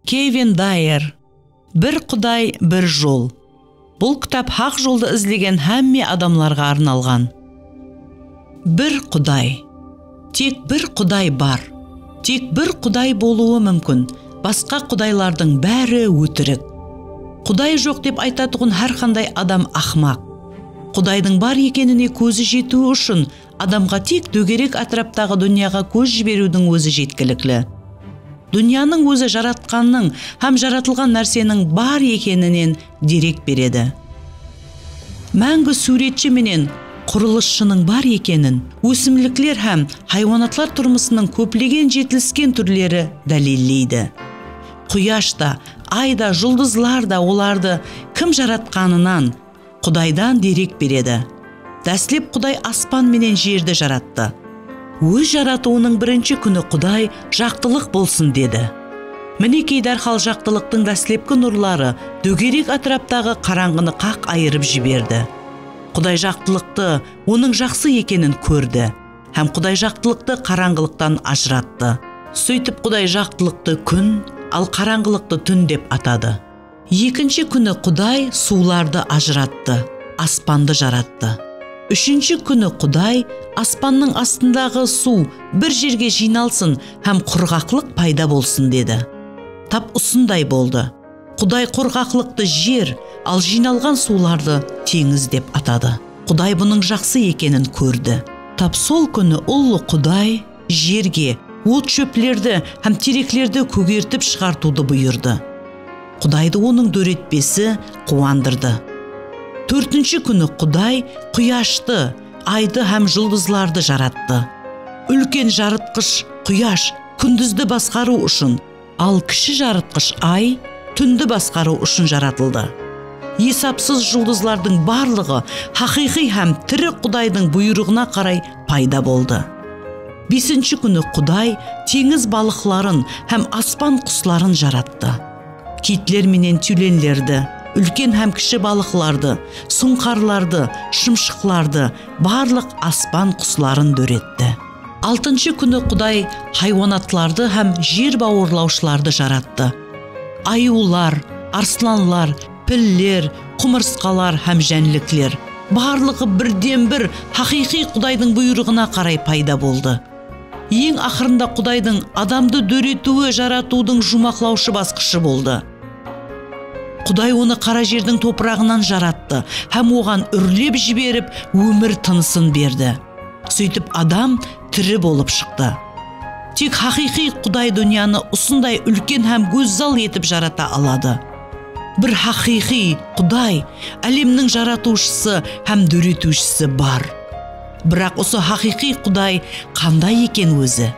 Kevin Dayr, Bir quday, bir jol. Bul kitap haq joldı izlegen hámme adamlarǵa arnalǵan. Bir quday. Tek bir quday bar. Tek bir quday bolıwı múmkin, basqa qudaylardıń bári ótirik. Quday joq dep aytatuǵın hár qanday adam aqmaq. Qudaydıń bar ekenine kózi jetiwi ushın Adamǵa tek dógerek átiraptaǵı dúnyaǵa kóz jiberiwdiń ózi jetkilikli. Dúnyanıń ózi Jaratqannıń hám jaratılǵan nárseniń bar ekeninen derek beredi. Máńgi súwretshi menen qurılısshınıń bar ekenin ósimlikler hám haywanatlar turmısınıń kóplegen jetilisken túrleri dálilleydi. Quyash ta, ay da, juldızlar da olardı kim jaratqanınan, Qudaydan derek beredi. Dáslep Quday aspan menen jerdi jarattı. Óz jaratıwınıń birinshi kúni Quday, Jaqtılıq bolsın! dedi. Minekey dárhal jaqtılıqtıń dáslepki nurları dógerek átiraptaǵı qarańǵını qaq ayırıp jiberdi. Quday jaqtılıqtı, onıń jaqsı ekenin kórdi. Hám Quday jaqtılıqtı qarańǵılıqtan ajırattı. Sóytip Quday jaqtılıqtı kún, al qarańǵılıqtı tún dep atadı. Ekinshi kúni Quday suwlardı ajırattı, aspandı jarattı. Úshinshi kúni Quday, Aspannıń astındaǵı suw bir jerge jıynalsın hám qurǵaqlıq payda bolsın, dedi. Tap usınday boldı. Quday qurǵaqlıqtı jer, al jıynalǵan suwlardı teńiz dep atadı. Quday bunıń jaqsı ekenin kórdi. Tap sol kúni Ullı Quday. jerge, ot-shóplerdi hám tereklerdi kógertip shıǵartıwdı buyırdı. Qudaydı onıń dóretpesi quwandırdı. Tórtinshi kúni Quday quyashtı, aydı hám juldızlardı jarattı. Úlken jarıtqısh Quyash kúndizdi basqarıw ushın, Al kishi jarıtqısh Ay túndi basqarıw ushın jaratıldı. Esapsız juldızlardıń barlıǵı haqıyqıy hám tiri Qudaydıń buyrıǵına qaray payda boldı. Besinshi kúni Quday teńiz balıqların hám aspan qusların jarattı. Kitler menen tyulenlerdi, úlken hám kishi balıqlardı, suńqarlardı, shımshıqlardı, barlıq aspan qusların dóretti. Altınshı kúni Quday haywanatlardı hám jer bawırlawshılardı jarattı. Ayıwlar, arslanlar, piller, qumırsqalar hám jánlikler, barlıǵı birden-bir haqıyqıy Qudaydıń buyrıǵına qaray payda boldı. Eń aqırında Qudaydıń adamdı dóretiwi jaratıwdıń juwmaqlawshı basqıshı boldı. Quday onı qara jerdiń topıraǵınan jarattı hám oǵan úrlep jiberip, ómir tınısın berdi. Sóytip adam tiri bolıp shıqtı. Tek haqıyqıy Quday dúnyanı usınday úlken hám gózzal etip jarata aladı. Bir haqıyqıy Quday, álemniń Jaratıwshısı hám Dóretiwshisi bar. Biraq usı haqıyqıy Quday qanday eken ózi?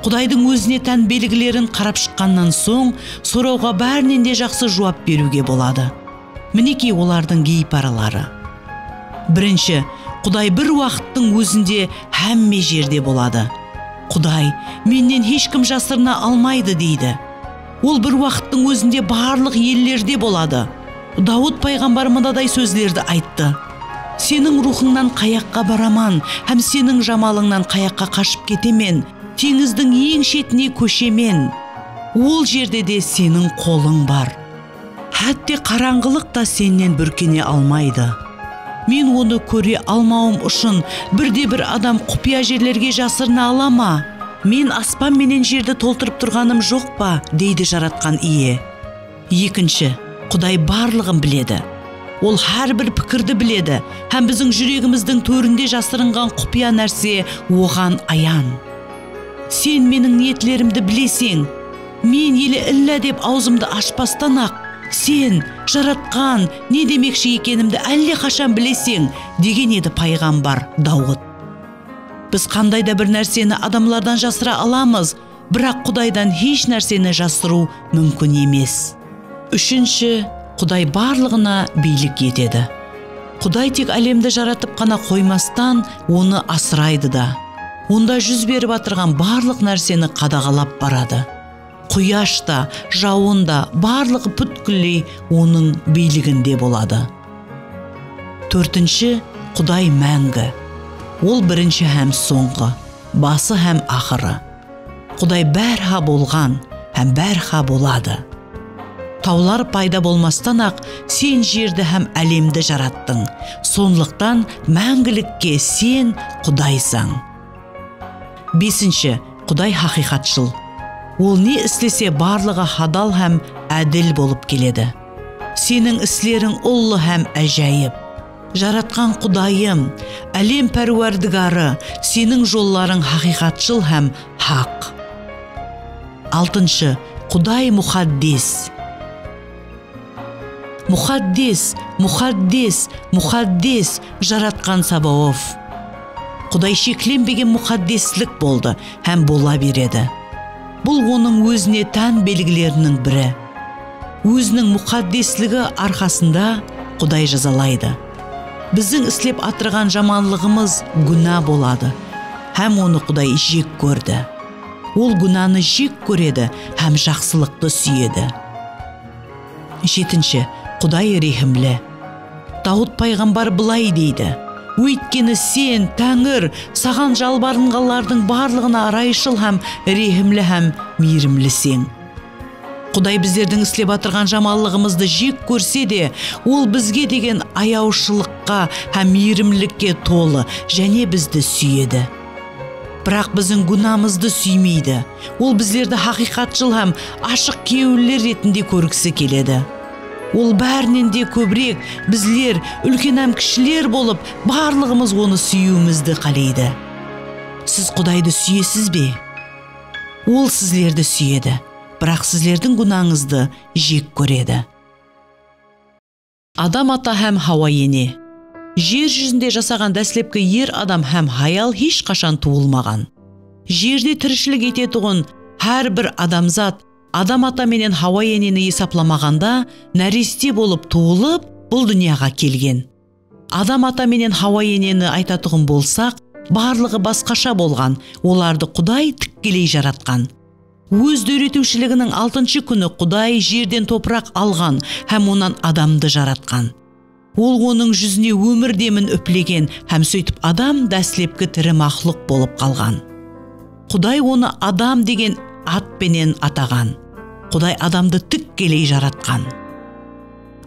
Qudaydıń ózine tán belgilerin qarap shıqqannan soń, sorawǵa bárinen de jaqsı juwap beriwge boladı. Minekey olardıń geyparaları. Birinshi, Quday bir waqıttıń ózinde hámme jerde boladı. Quday, Mennen hesh kim jasırına almaydı, deydi. Ol bir waqıttıń ózinde barlıq ellerde boladı. Dawıt payǵambar mınaday sózlerdi ayttı, Seniń ruwxıńnan qayaqqa baraman hám Seniń jamalıńnan qayaqqa qashıp ketemen? Teńizdiń eń shetine kóshemen, ol jerde de Seniń qolıń bar. Hátte qarańǵılıq ta sennen búrkene almaydı. Men onı kóre almawım ushın birde-bir adam qupıya jerlerge jasırına ala ma? Men aspan menen jerdi toltırıp turǵanım joq pa? deydi Jaratqan Iye. Ekinshi, Quday barlıǵın biledi. Ol hár bir pikirdi biledi hám biziń júregimizdiń tórinde jasırınǵan qupıya nárse Oǵan ayan. Sen Meniń niyetlerimdi bileseń. Men ele illa dep awzımdı ashpastan-aq, Sen, Jaratqan, ne demekshi ekenimdi álle qashan bileseń, degen edi payǵambar Dawıt. Biz qanday da bir nárseni adamlardan jasıra alamız, biraq Qudaydan hesh nárseni jasırıw múmkin emes. Úshinshi, Quday barlıǵına biylik etedi. Quday tek álemdi jaratıp ǵana qoymastan, onı asıraydı da. Onda júz berip atırǵan barlıq nárseni qadaǵalap baradı. Quyash ta, jawın da, barlıǵı pútkilley Onıń biyliginde boladı. Tórtinshi, Quday máńgi. Ol birinshi hám sońǵı, bası hám aqırı. Quday bárha bolǵan hám bárha boladı. Tawlar payda bolmastan-aq, Sen jerdi hám álemdi jarattıń, sonlıqtan máńgilikke Sen Qudaysań. Besinshi, Quday haqıyqatshıl. Ol ne islese, barlıǵı hadal hám ádil bolıp keledi. Seniń isleriń ullı hám ájayıp. Jaratqan Qudayım, Álem Párwardigarı, Seniń jollarıń haqıyqatshıl hám haq. Altınshı, Quday muxaddes! Muxaddes! Muxaddes! Muxaddes! Jaratqan Sabaof! Quday sheklenbegen muxaddeslik boldı hám bola beredi. Bul Onıń ózine tán belgileriniń biri. Óziniń muqaddesligi arqasında Quday jazalaydı. Biziń islep atırǵan jamanlıǵımız gúna boladı hám onı Quday jek kórdi. Ol gúnanı jek kóredi hám jaqsılıqtı súyedi. Jetinshi, Quday rehimli. Dawıt payǵambar bılay deydi, Óytkeni Sen, Táńir, Saǵan jalbarınǵanlardıń barlıǵına ırayshıl hám rehimli hám miyrimliseń. Quday bizlerdiń islep atırǵan jamanlıǵımızdı jek kórse de, Ol bizge degen ayawshılıqqa hám miyrimlikke tolı jáne bizdi súyedi. Biraq biziń gúnamızdı súymeydi. Ol bizlerdi haqıyqatshıl hám ashıq kewilli retinde kórgisi keledi. Ol bárinen de kóbirek, bizler, úlken hám kishiler bolıp, barlıǵımız Onı súyiwimizdi qáleydi. Siz Qudaydı súyesiz be? Ol sizlerdi súyedi, biraq sizlerdiń gúnańızdı jek kóredi. Adam ata hám Hawa ene. Jer júzinde jasaǵan dáslepki er adam hám hayal hesh qashan tuwılmaǵan. Jerde tirishilik etetuǵın hár bir adamzat Adam ata menen Hawa eneni esaplamaǵanda náreste bolıp tuwılıp, bul dúnyaǵa kelgen. Adam ata menen Hawa eneni aytatuǵın bolsaq, barlıǵı basqasha bolǵan, olardı Quday tikkeley jaratqan. Óz dóretiwshiliginiń altınshı kúni Quday jerden topıraq alǵan hám onnan adamdı jaratqan. Ol onıń júzine ómir demin úplegen hám sóytip adam dáslepki tiri maxluq bolıp qalǵan. Quday onı Adam degen at penen ataǵan. Quday adamdı tikkeley jaratqan.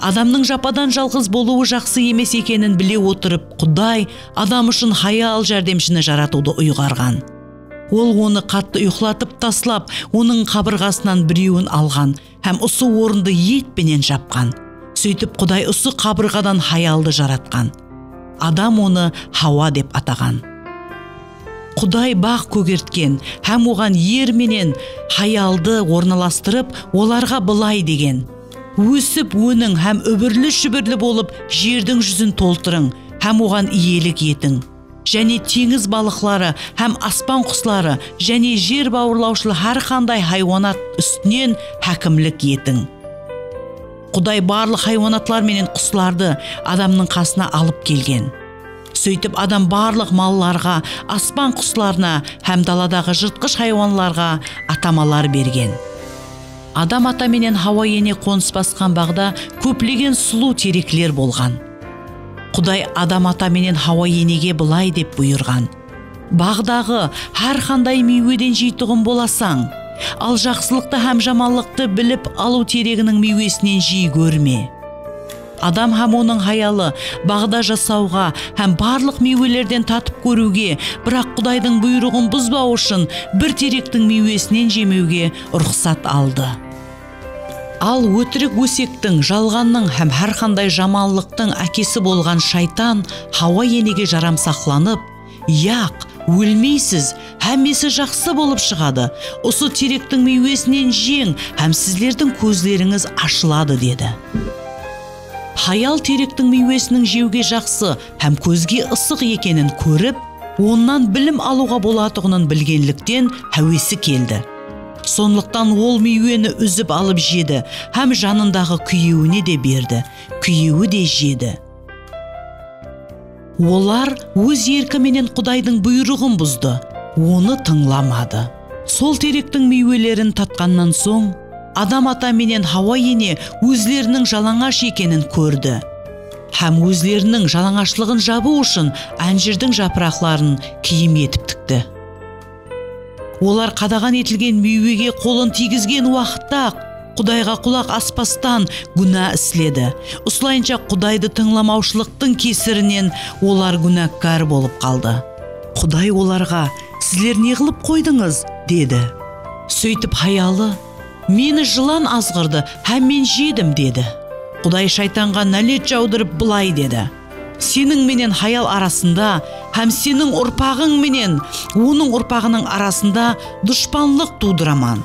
Adamnıń japadan jalǵız bolıwı jaqsı emes ekenin bile otırıp, Quday adam ushın hayal járdemshini jaratıwdı uyǵarǵan. Ol onı qattı uyqılatıp taslap, onıń qabırǵasınan birewin alǵan hám usı orındı et penen japqan. Sóytip Quday usı qabırǵadan hayaldı jaratqan. Adam onı Hawa dep ataǵan. Quday baǵ kógertken hám oǵan er menen hayaldı ornalastırıp, olarǵa bılay degen. Ósip, óniń hám úbirli-júbirli bolıp jerdiń júzin toltırıń hám oǵan iyelik etiń. Jáne teńiz balıqları hám aspan qusları jáne jer bawırlawshıl hár qanday haywanat ústinen hákimlik etiń. Quday barlıq haywanatlar menen quslardı adamnıń qasına alıp kelgen. Sóytip adam barlıq mallarǵa, aspan quslarına hám daladaǵı jırtqısh haywanlarǵa atamalar bergen. Adam ata menen Hawa ene qonıs basqan baǵda kóplegen sulıw terekler bolǵan. Quday Adam ata menen Hawa enege bılay dep buyırǵan, Baǵdaǵı hár qanday miyweden jeytuǵın bolasań, al jaqsılıqtı hám jamanlıqtı bilip alıw tereginiń miywesinen jiy kórme. Adam hám onıń hayalı baǵda jasawǵa hám barlıq miywelerden tatıp kóriwge, biraq Qudaydıń buyrıǵın buzbaw ushın bir terektiń miywesinen jemewge ruxsat aldı. Al ótirik ósektiń, jalǵannıń hám hár qanday jamanlıqtıń ákesi bolǵan Shaytan Hawa enege jaramsaqlanıp, Yaq, ólmeysiz, hámmesi jaqsı bolıp shıǵadı. Usı terektiń miywesinen jeń hám sizlerdiń kózlerińiz ashıladı, dedi. Hayal terektiń miywesiniń jewge jaqsı hám kózge ısıq ekenin kórip, onnan bilim alıwǵa bolatuǵının bilgenlikten háwesi keldi. Sonlıqtan ol miyweni úzip alıp jedi hám janındaǵı kúyewine de berdi, kúyewi de jedi. Olar óz erki menen Qudaydıń buyrıǵın buzdı, Onı tıńlamadı. Sol terektiń miywelerin tatqannan soń, Adam ata menen Hawa ene ózleriniń jalańash ekenin kórdi hám ózleriniń jalańashlıǵın jabıw ushın ánjirdiń japıraqların kiyim etip tikti. Olar qadaǵan etilgen miywege qolın tiygizgen waqıtta-aq, Qudayǵa qulaq aspastan, gúna isledi. Usılayınsha Qudaydı tıńlamawshılıqtıń kesirinen olar gúnakkar bolıp qaldı. Quday olarǵa, Sizler ne qılıp qoydıńız? dedi. Sóytip hayalı, Meni jılan azǵırdı hám men jedim, dedi. Quday Shaytanǵa nálet jawdırıp bılay dedi. Seniń menen hayal arasında hám seniń urpaǵıń menen onıń urpaǵınıń arasında dushpanlıq tuwdıraman.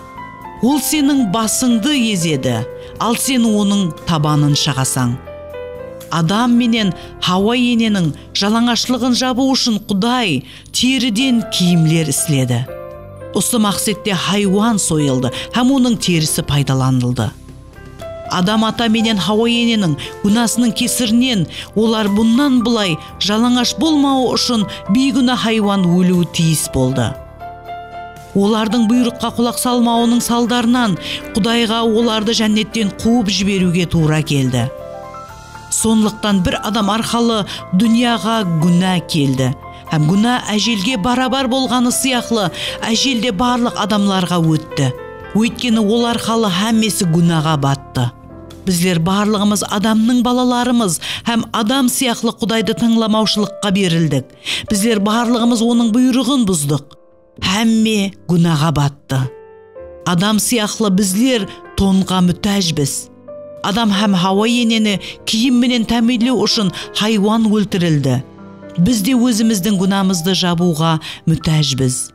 Ol seniń basıńdı ezedi, al sen onıń tabanın shaǵasań. Adam menen Hawa eneniń jalańashlıǵın jabıw ushın Quday teriden kiyimler isledi. Usı maqsette haywan soyıldı hám onıń terisi paydalanıldı. Adam ata menen Hawa eneniń gúnasınıń kesirinen, olar bunnan bılay jalańash bolmawı ushın biygúna haywan óliwi tiyis boldı. Olardıń buyrıqqa qulaq salmawınıń saldarınan, Qudayǵa olardı Jánnetten quwıp jiberiwge tuwra keldi. Sonlıqtan bir adam arqalı dúnyaǵa gúna keldi. Hám gúna ájelge barabar bolǵanı sıyaqlı, ájel de barlıq adamlarǵa ótti. Óytkeni ol arqalı hámmesi gúnaǵa battı. Bizler barlıǵımız adamnıń balalarımız hám adam sıyaqlı Qudaydı tańlamawshılıqqa berildik. Bizler barlıǵımız Onıń buyrıǵın buzdıq. Hámme gúnaǵa battı. Adam sıyaqlı bizler tonǵa mútájbiz. Adam hám Hawa eneni kiyim menen támiyinlew ushın haywan óltirildi. Biz de ózimizdiń gúnamızdı jabıwǵa mútájbiz.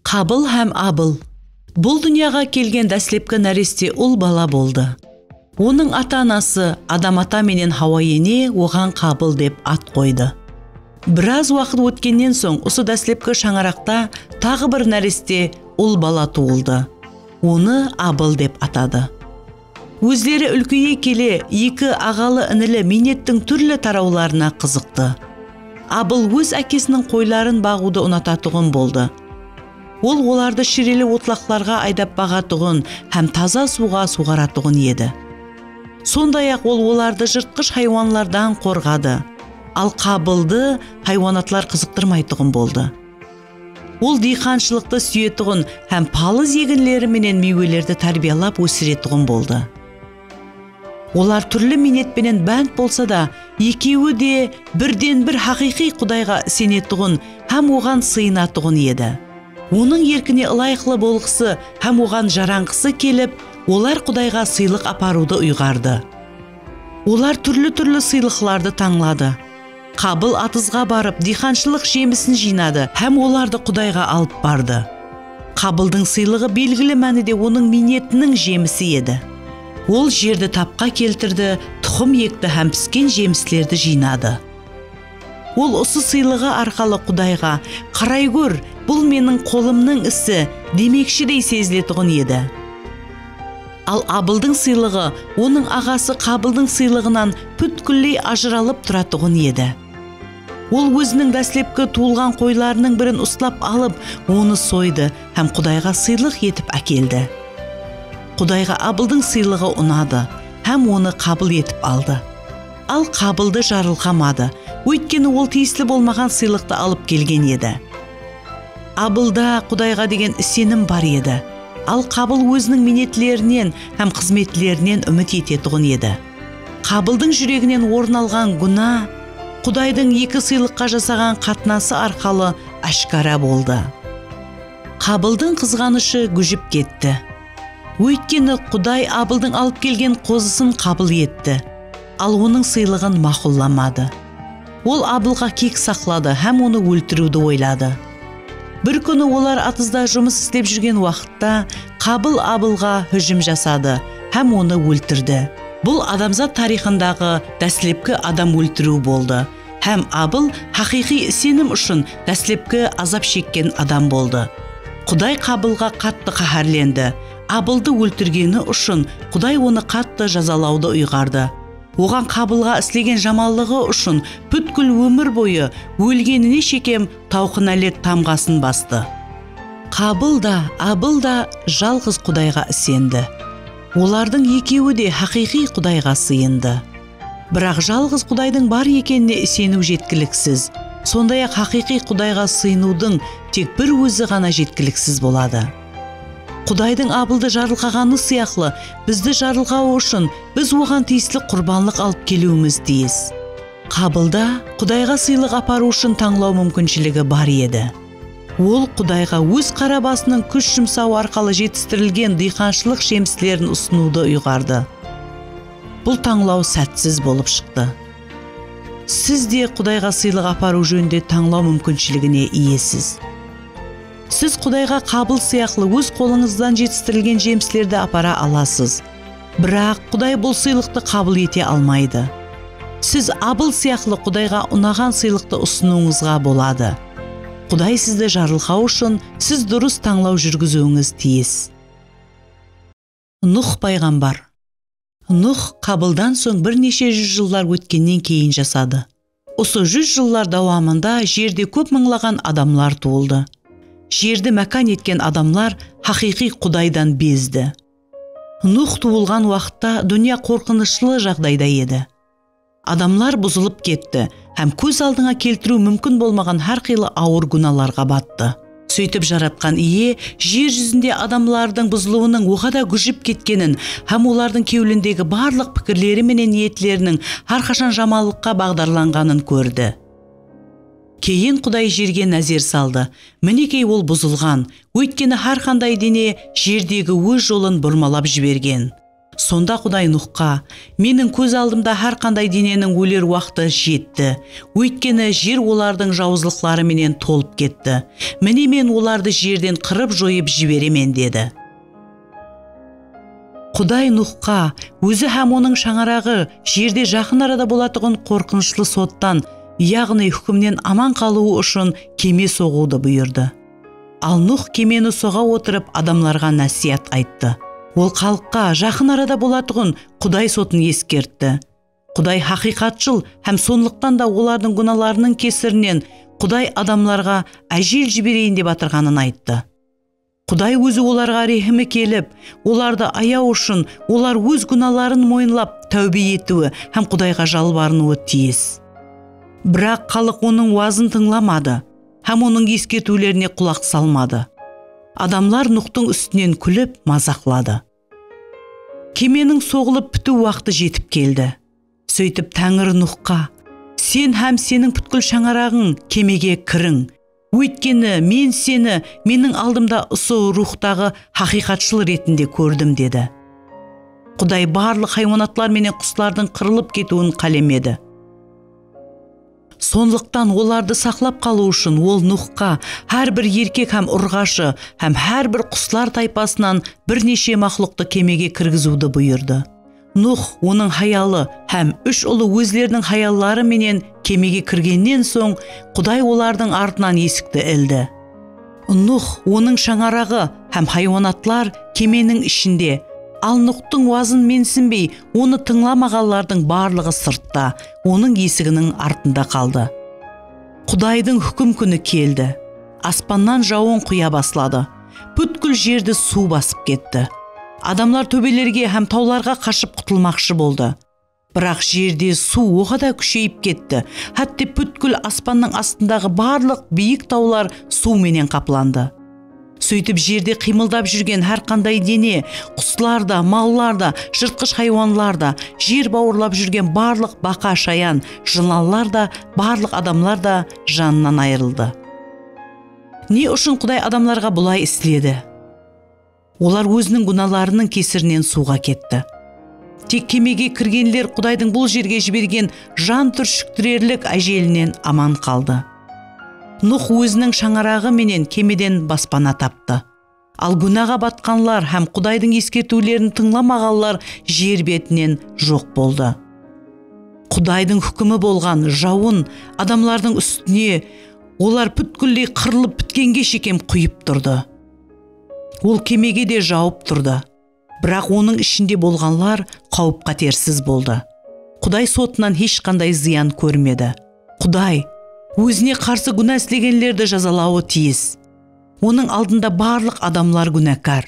Qabil hám Abil. Bul dúnyaǵa kelgen dáslepki náreste ul bala boldı. Onıń ata-anası Adam-ata menen Hawa ene oǵan Qabıl dep at qoydı. Biraz waqıt ótkennen soń usı dáslepki shańaraqta taǵı bir náreste ul bala tuwıldı. Onı Abıl dep atadı. Ózleri úlkeye kele eki aǵalı-inili miynettiń túrli tarawlarına qızıqtı. Abıl óz ákesiniń qoyların baǵıwdı unatatuǵın boldı. Ol olardı shireli otlaqlarǵa aydap baǵatuǵın hám taza suwǵa suwǵaratuǵın edi. Sonday-aq, ol olardı jırtqısh haywanlardan qorǵadı. Al Qabıldı haywanatlar qızıqtırmaytuǵın boldı. Ol diyqanshılıqtı súyetuǵın hám palız eginleri menen miywelerdi tárbiyalap ósiretuǵın boldı. Olar túrli miynet penen bánt bolsa da, ekewi de birden-bir haqıyqıy Qudayǵa isenetuǵın hám Oǵan sıyınatuǵın edi. Onıń erkine ılayıqlı bolǵısı hám Oǵan jaranǵısı kelip, olar Qudayǵa sıylıq aparıwdı uyǵardı. Olar túrli-túrli sıylıqlardı tańladı. Qabıl atızǵa barıp, diyxanshılıq jemisin jıynadı hám olardı Qudayǵa alıp bardı. Qabıldıń sıylıǵı belgili mánide onıń miynetiniń jemisi edi. Ol jerdi tapqa keltirdi, tuxım ekti hám pisken jemislerdi jıynadı. Ol usı sıylıǵı arqalı Qudayǵa, Qaray kór, bul meniń qolımnıń isi, demekshidey seziletuǵın edi. Al Abıldıń sıylıǵı onıń aǵası Qabıldıń sıylıǵınan pútkilley ajıralıp turatuǵın edi. Ol óziniń dáslepki tuwılǵan qoylarınıń birin uslap alıp, onı soydı hám Qudayǵa sıylıq etip ákeldi. Qudayǵa Abıldıń sıylıǵı unadı hám onı qabıl etip aldı. Al Qabıldı jarılqamadı, óytkeni ol tiyisli bolmaǵan sıylıqtı alıp kelgen edi. Abılda Qudayǵa degen isenim bar edi. Al Qabıl óziniń miynetlerinen hám xızmetlerinen úmit etetuǵın edi. Qabıldıń júreginen orın alǵan gúna Qudaydıń eki sıylıqqa jasaǵan qatnası arqalı áshkara boldı. Qabıldıń qızǵanıshı gújip ketti. Óytkeni Quday Abıldıń alıp kelgen qozısın qabıl etti, al onıń sıylıǵın maqullamadi. Ol abılǵa kek saqladı hám onı óltiriwdi oyladı. Bir kúni olar atızda jumıs islep júrgen waqıtta Qabıl abılǵa hújim jasadı hám onı óltirdi. Bul adamzat tariyxındaǵı dáslepki adam óltiriw boldı hám Abıl haqıyqıy isenim ushın dáslepki azap shekken adam boldı. Quday Qabılǵa qattı qáhárlendi. Abıldı óltirgeni ushın Quday onı qattı jazalawdı uyǵardı. Oǵan qabılǵa islegen jamanlıǵı ushın pútkil ómir boyı ólgenine shekem tawqınálet tamǵasın bastı. Qabıl da, Abıl da jalǵız Qudayǵa isendi. Olardıń ekewi de haqıyqıy Qudayǵa sıyındı. Biraq jalǵız Qudaydıń bar ekenine iseniw jetkiliksiz, sonday-aq haqıyqıy Qudayǵa sıyınıwdıń tek bir Ózi ǵana jetkiliksiz boladı. Qudaydıń Abıldı jarılqaǵanı sıyaqlı, bizdi jarılqawı ushın biz Oǵan tiyisli qurbanlıq alıp keliwimiz tiyis. Qabılda Qudayǵa sıylıq aparıw ushın tańlaw múmkinshiligi bar edi. Ol Qudayǵa óz qara basınıń kúsh jumsawı arqalı jetistirilgen dıyqanshılıq jemislerin usınıwdı uyǵardı. Bul tańlaw sátsiz bolıp shıqtı. Siz de Qudayǵa sıylıq aparıw jóninde tańlaw múmkinshiligine iyesiz. Siz Qudayǵa qabıl sıyaqlı óz qolıńızdan jetistirilgen jemislerdi apara alasız. Biraq Quday bul sıylıqtı qabıl ete almaydı. Siz Abıl sıyaqlı Qudayǵa unaǵan sıylıqtı usınıwıńızǵa boladı. Quday sizdi jarılqaw ushın, siz durıs tańlaw júrgiziwińiz tiyis. Nuh payǵambar. Nuh Qabıldan soń bir neshe júz jıllar ótkennen keyin jasadı. Usı júz jıllar dawamında jerde kóp mıńlaǵan adamlar tuwıldı. Jerdi mákan etken adamlar haqıyqıy Qudaydan bezdi. Nuh tuwılǵan waqıtta dúnya qorqınıshlı jaǵdayda edi. Adamlar buzılıp ketti hám kóz aldıńa keltiriw múmkin bolmaǵan hár qıylı awır gúnalarǵa battı. Sóytip Jaratqan Iye jer júzinde adamlardıń buzılıwınıń oǵada gújip ketkenin hám olardıń kewlindegi barlıq pikirleri menen niyetleriniń hár qashan jamanlıqqa baǵdarlanǵanın kórdi. Keyin Quday jerge názer saldı, minekey ol buzılǵan, óytkeni hár qanday dene jerdegi óz jolın burmalap jibergen. Sonda Quday Nuxqa, Meniń kóz aldımda hár qanday deneniń óler waqtı jetti, óytkeni jer olardıń jawızlıqları menen tolıp ketti. Mine, Men olardı jerden qırıp-joyıp jiberemen, dedi. Quday Nuxqa, Ózi hám onıń shańaraǵı jerde jaqın arada bolatuǵın qorqınıshlı sottan, yaǵnıy húkimnen aman qalıwı ushın keme soǵıwdı buyırdı. Al Nuh kemeni soǵa otırıp adamlarǵa násiyat ayttı. Ol xalıqqa jaqın arada bolatuǵın Quday sotın eskertti. Quday haqıyqatshıl hám sonlıqtan da olardıń gúnalarınıń kesirinen Quday adamlarǵa ájel jibereyin dep atırǵanın ayttı. Quday Ózi olarǵa rehimi kelip, olardı ayaw ushın olar óz gúnaların moyınlap táwbe etiwi hám Qudayǵa jalbarınıwı tiyis. Biraq xalıq Onıń wazın tıńlamadı. hám onıń eskertiwlerine qulaq salmadı. Adamlar Nuxtıń ústinen kúlip, mazaqladı. Kemeniń soǵılıp pitiw waqtı jetip keldi. Sóytip Táńiri Nuxqa, Sen hám seniń pútkil shańaraǵıń kemege kiriń, óytkeni Men seni Meniń aldımda usı ruwxtaǵı haqıyqatshıl retinde kórdim, dedi. Quday barlıq haywanatlar menen quslardıń qırılıp ketiwin qálemedi. Sonlıqtan olardı saqlap qalıw ushın ol Nuxqa hár bir erkek hám urǵashı hám hár bir quslar taypasınan bir neshe maxluqtı kemege kirgiziwdi buyırdı. Nux, onıń hayalı hám úsh ulı ózleriniń hayalları menen kemege kirgennen soń, Quday olardıń artınan esikti ildi. Nuh, onıń shańaraǵı hám haywanatlar kemeniń ishinde. Al Nuxtıń wazın mensinbey, onı tıńlamaǵanlardıń barlıǵı sırtta, onıń esiginiń artında qaldı. Qudaydıń húkim kúni keldi. Aspannan jawın quya basladı. Pútkil jerdi suw basıp ketti. Adamlar tóbelerge hám tawlarǵa qashıp qutılmaqshı boldı. Biraq jerde suw oǵada kúsheyip ketti, hátte pútkil aspannıń astındaǵı barlıq biyik tawlar suw menen qaplandı. Sóytip jerde qıymıldap júrgen hár qanday dene, quslar da, mallar da, jırtqısh haywanlar da, jer bawırlap júrgen barlıq baqa-shayan, jılanlar da, barlıq adamlar da janınan ayırıldı. Ne ushın Quday adamlarǵa bulay isledi? Olar óziniń gúnalarınıń kesirinen suwǵa ketti. Tek kemege kirgenler Qudaydıń bul jerge jibergen jan túrshiktirerlik ájelinen aman qaldı. Nuh óziniń shańaraǵı menen kemeden baspana taptı. Al gúnaǵa batqanlar hám Qudaydıń eskertiwlerin tıńlamaǵanlar jer betinen joq boldı. Qudaydıń húkimi bolǵan jawın adamlardıń ústine olar pútkilley qırılıp pitkenge shekem quyıp turdı. Ol kemege de jawıp turdı. Biraq onıń ishinde bolǵanlar qáwip-qátersiz boldı. Quday sotınan hesh qanday zıyan kórmedi. Quday Ózine qarsı gúna islegenlerdi jazalawı tiyis. Onıń aldında barlıq adamlar gúnakar.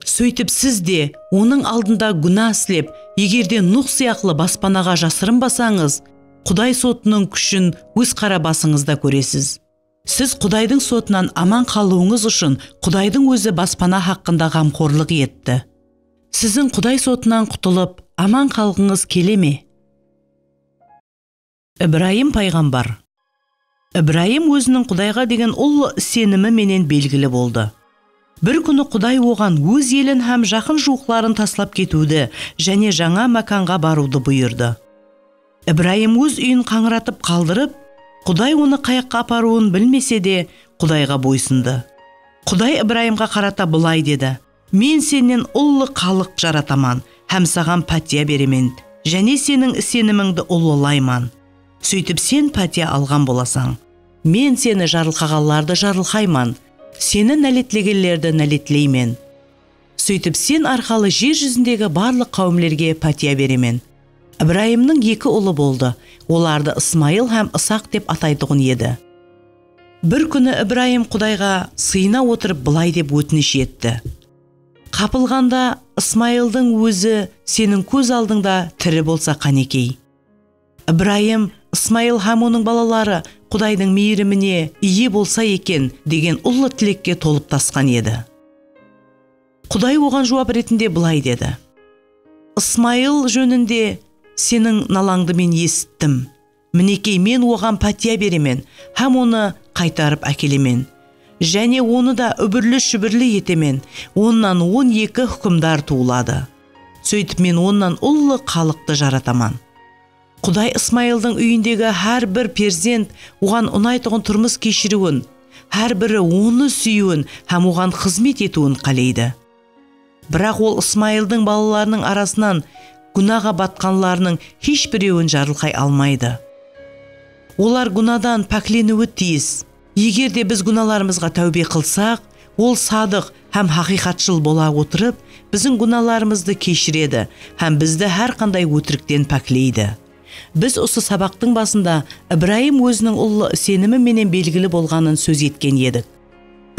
Sóytip siz de Onıń aldında gúna islep, egerde Nuh sıyaqlı baspanaǵa jasırınbasańız, Quday sotınıń kúshin óz qara basıńızda kóresiz. Siz Qudaydıń sotınan aman qalıwıńız ushın Qudaydıń Ózi baspana haqqında ǵamxorlıq etti. Siziń Quday sotınan qutılıp, aman qalǵıńız kele me? Ibrayım payǵambar. Ibrayım óziniń Qudayǵa degen ullı isenimi menen belgili boldı. Bir kúni Quday oǵan óz elin hám jaqın-juwıqların taslap ketiwdi jáne jańa mákanǵa barıwdı buyırdı. Ibrayım óz úyin qańıratıp qaldırıp, Quday onı qayaqqa aparıwın bilmese de, Qudayǵa boysındı. Quday Ibrayımǵa qarata bılay dedi, Men sennen ullı xalıq jarataman hám saǵan pátiya beremen, jáne seniń isenimińdi ullılayman. Sóytip sen pátiya alǵan bolasań. Men seni jarılqaǵanlardı jarılqayman, seni náletlegenlerdi náletleymen. Sóytip sen arqalı jer júzindegi barlıq qáwimlerge pátiya beremen. Ibrayımnıń eki ulı boldı, olardı Ismayıl hám Isaq dep ataytuǵın edi. Bir kúni Ibrayım Qudayǵa sıyına otırıp bılay dep ótinish etti, Qapılǵanda Ismayıldıń ózi seniń kóz aldıńda tiri bolsa qánekey! Ibrayım, Ismayıl hám onıń balaları Qudaydıń miyirimine iye bolsa eken, degen ullı tilekke tolıp tasqan edi. Quday oǵan juwap retinde bılay dedi, Ismayıl jóninde seniń nalańdı Men esittim. Minekey, Men oǵan pátiya beremen hám onı qaytarıp ákelemen. Jáne onı da úbirli-shúbirli etemen, onnan on eki húkimdar tuwıladı. Sóytip men onnan ullı xalıqtı jarataman. Quday Ismayıldıń úyindegi hár bir perzent oǵan unaytuǵın turmıs keshiriwin, hár biri Onı súyiwin hám Oǵan xızmet etiwin qáleydi. Biraq Ol Ismayıldıń balalarınıń arasınan gúnaǵa batqanlarınıń hesh birewin jarılqay almaydı. Olar gúnadan pákleniwi tiyis. Eger de biz gúnalarımızǵa táwbe qılsaq, Ol sadıq hám haqıyqatshıl bola otırıp, biziń gúnalarımızdı keshiredi hám bizdi hár qanday ótirikten pákleydi. Biz usı sabaqtıń basında Ibrayım óziniń ullı isenimi menen belgili bolǵanın sóz etken edik.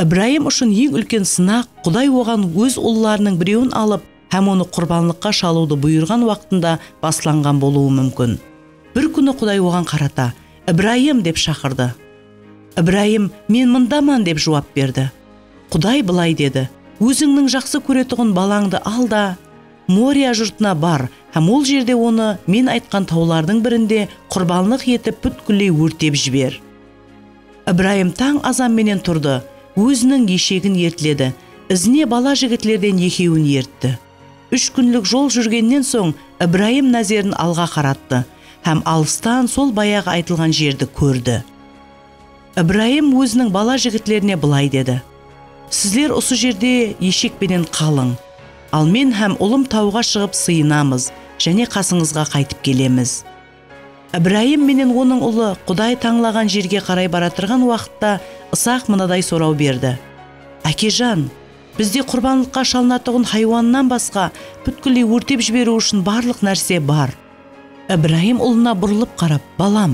Ibrayım ushın eń úlken sınaq Quday oǵan óz ullarınıń birewin alıp, hám onı qurbanlıqqa shalıwdı buyırǵan waqtında baslanǵan bolıwı múmkin. Bir kúni Quday oǵan qarata, Ibrayım! dep shaqırdı. Ibrayım, Men mındaman! dep juwap berdi. Quday bılay dedi, Ózińniń jaqsı kóretuǵın balańdı al da, Moriya jurtına bar hám ol jerde onı Men aytqan tawlardıń birinde qurbanlıq etip pútkilley órtep jiber. Ibrayım tań azan menen turdı, óziniń eshegin ertledi, izine bala jigitlerden ekewin ertti. Úsh kúnlik jol júrgennen soń Ibrayım názerin alǵa qarattı hám alıstan sol bayaǵı aytılǵan jerdi kórdi. Ibrayım óziniń bala jigitlerine bılay dedi, Sizler usı jerde eshek penen qalıń, al men hám ulım tawǵa shıǵıp sıyınamız, jáne qasıńızǵa qaytıp kelemiz. Ibrayım menen onıń ulı Quday tańlaǵan jerge qaray baratırǵan waqıtta Isaq mınaday soraw berdi, Ákejan, bizde qurbanlıqqa shalınatuǵın haywannan basqa pútkilley órtep jiberiw ushın barlıq nárse bar. Ibrayım ulına burılıp qarap, Balam,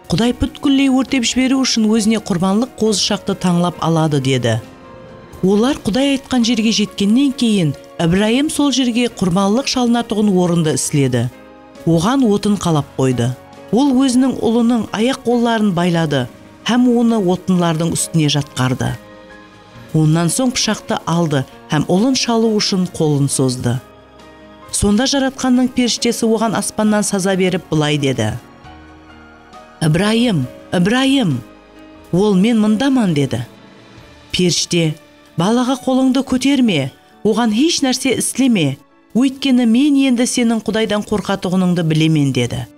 Quday pútkilley órtep jiberiw ushın ózine qurbanlıq qozıshaqtı tańlap aladı, dedi. Olar Quday aytqan jerge jetkennen keyin Ibrayım sol jerge qurbanlıq shalınatuǵın orındı isledi. oǵan otın qalap qoydı. Ol óziniń ulınıń ayaq-qolların bayladı hám onı otınlardıń ústine jatqardı. Onnan soń pıshaqtı aldı hám ulın shalıw ushın qolın sozdı. Sonda Jaratqannıń perishtesi oǵan aspannan saza berip bılay dedi, Ibrayım! Ibrayım! Ol, Men mındaman, dedi. Perishte, Balaǵa qolıńdı kóterme, oǵan hesh nárse isleme. Óytkeni Men endi seniń Qudaydan qorqatuǵınıńdı bilemen, dedi.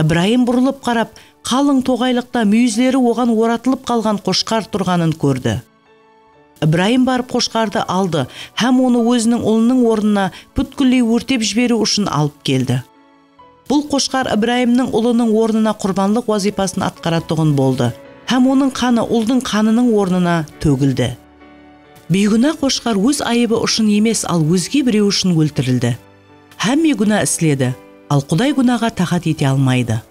Ibrayım burılıp qarap, qalıń toǵaylıqta múyizleri oǵan oratılıp qalǵan qoshqar turǵanın kórdi. Ibrayım barıp qoshqardı aldı hám onı óziniń ulınıń ornına pútkilley órtep jiberiw ushın alıp keldi. Bul qoshqar Ibrayımnıń ulınıń ornına qurbanlıq wazıypasın atqaratuǵın boldı hám onıń qanı uldıń qanınıń ornına tógildi. Biygúna qoshqar óz ayıbı ushın emes, al ózge birew ushın óltirildi. Hámme gúna isledi, al Quday gúnaǵa taxat ete almaydı.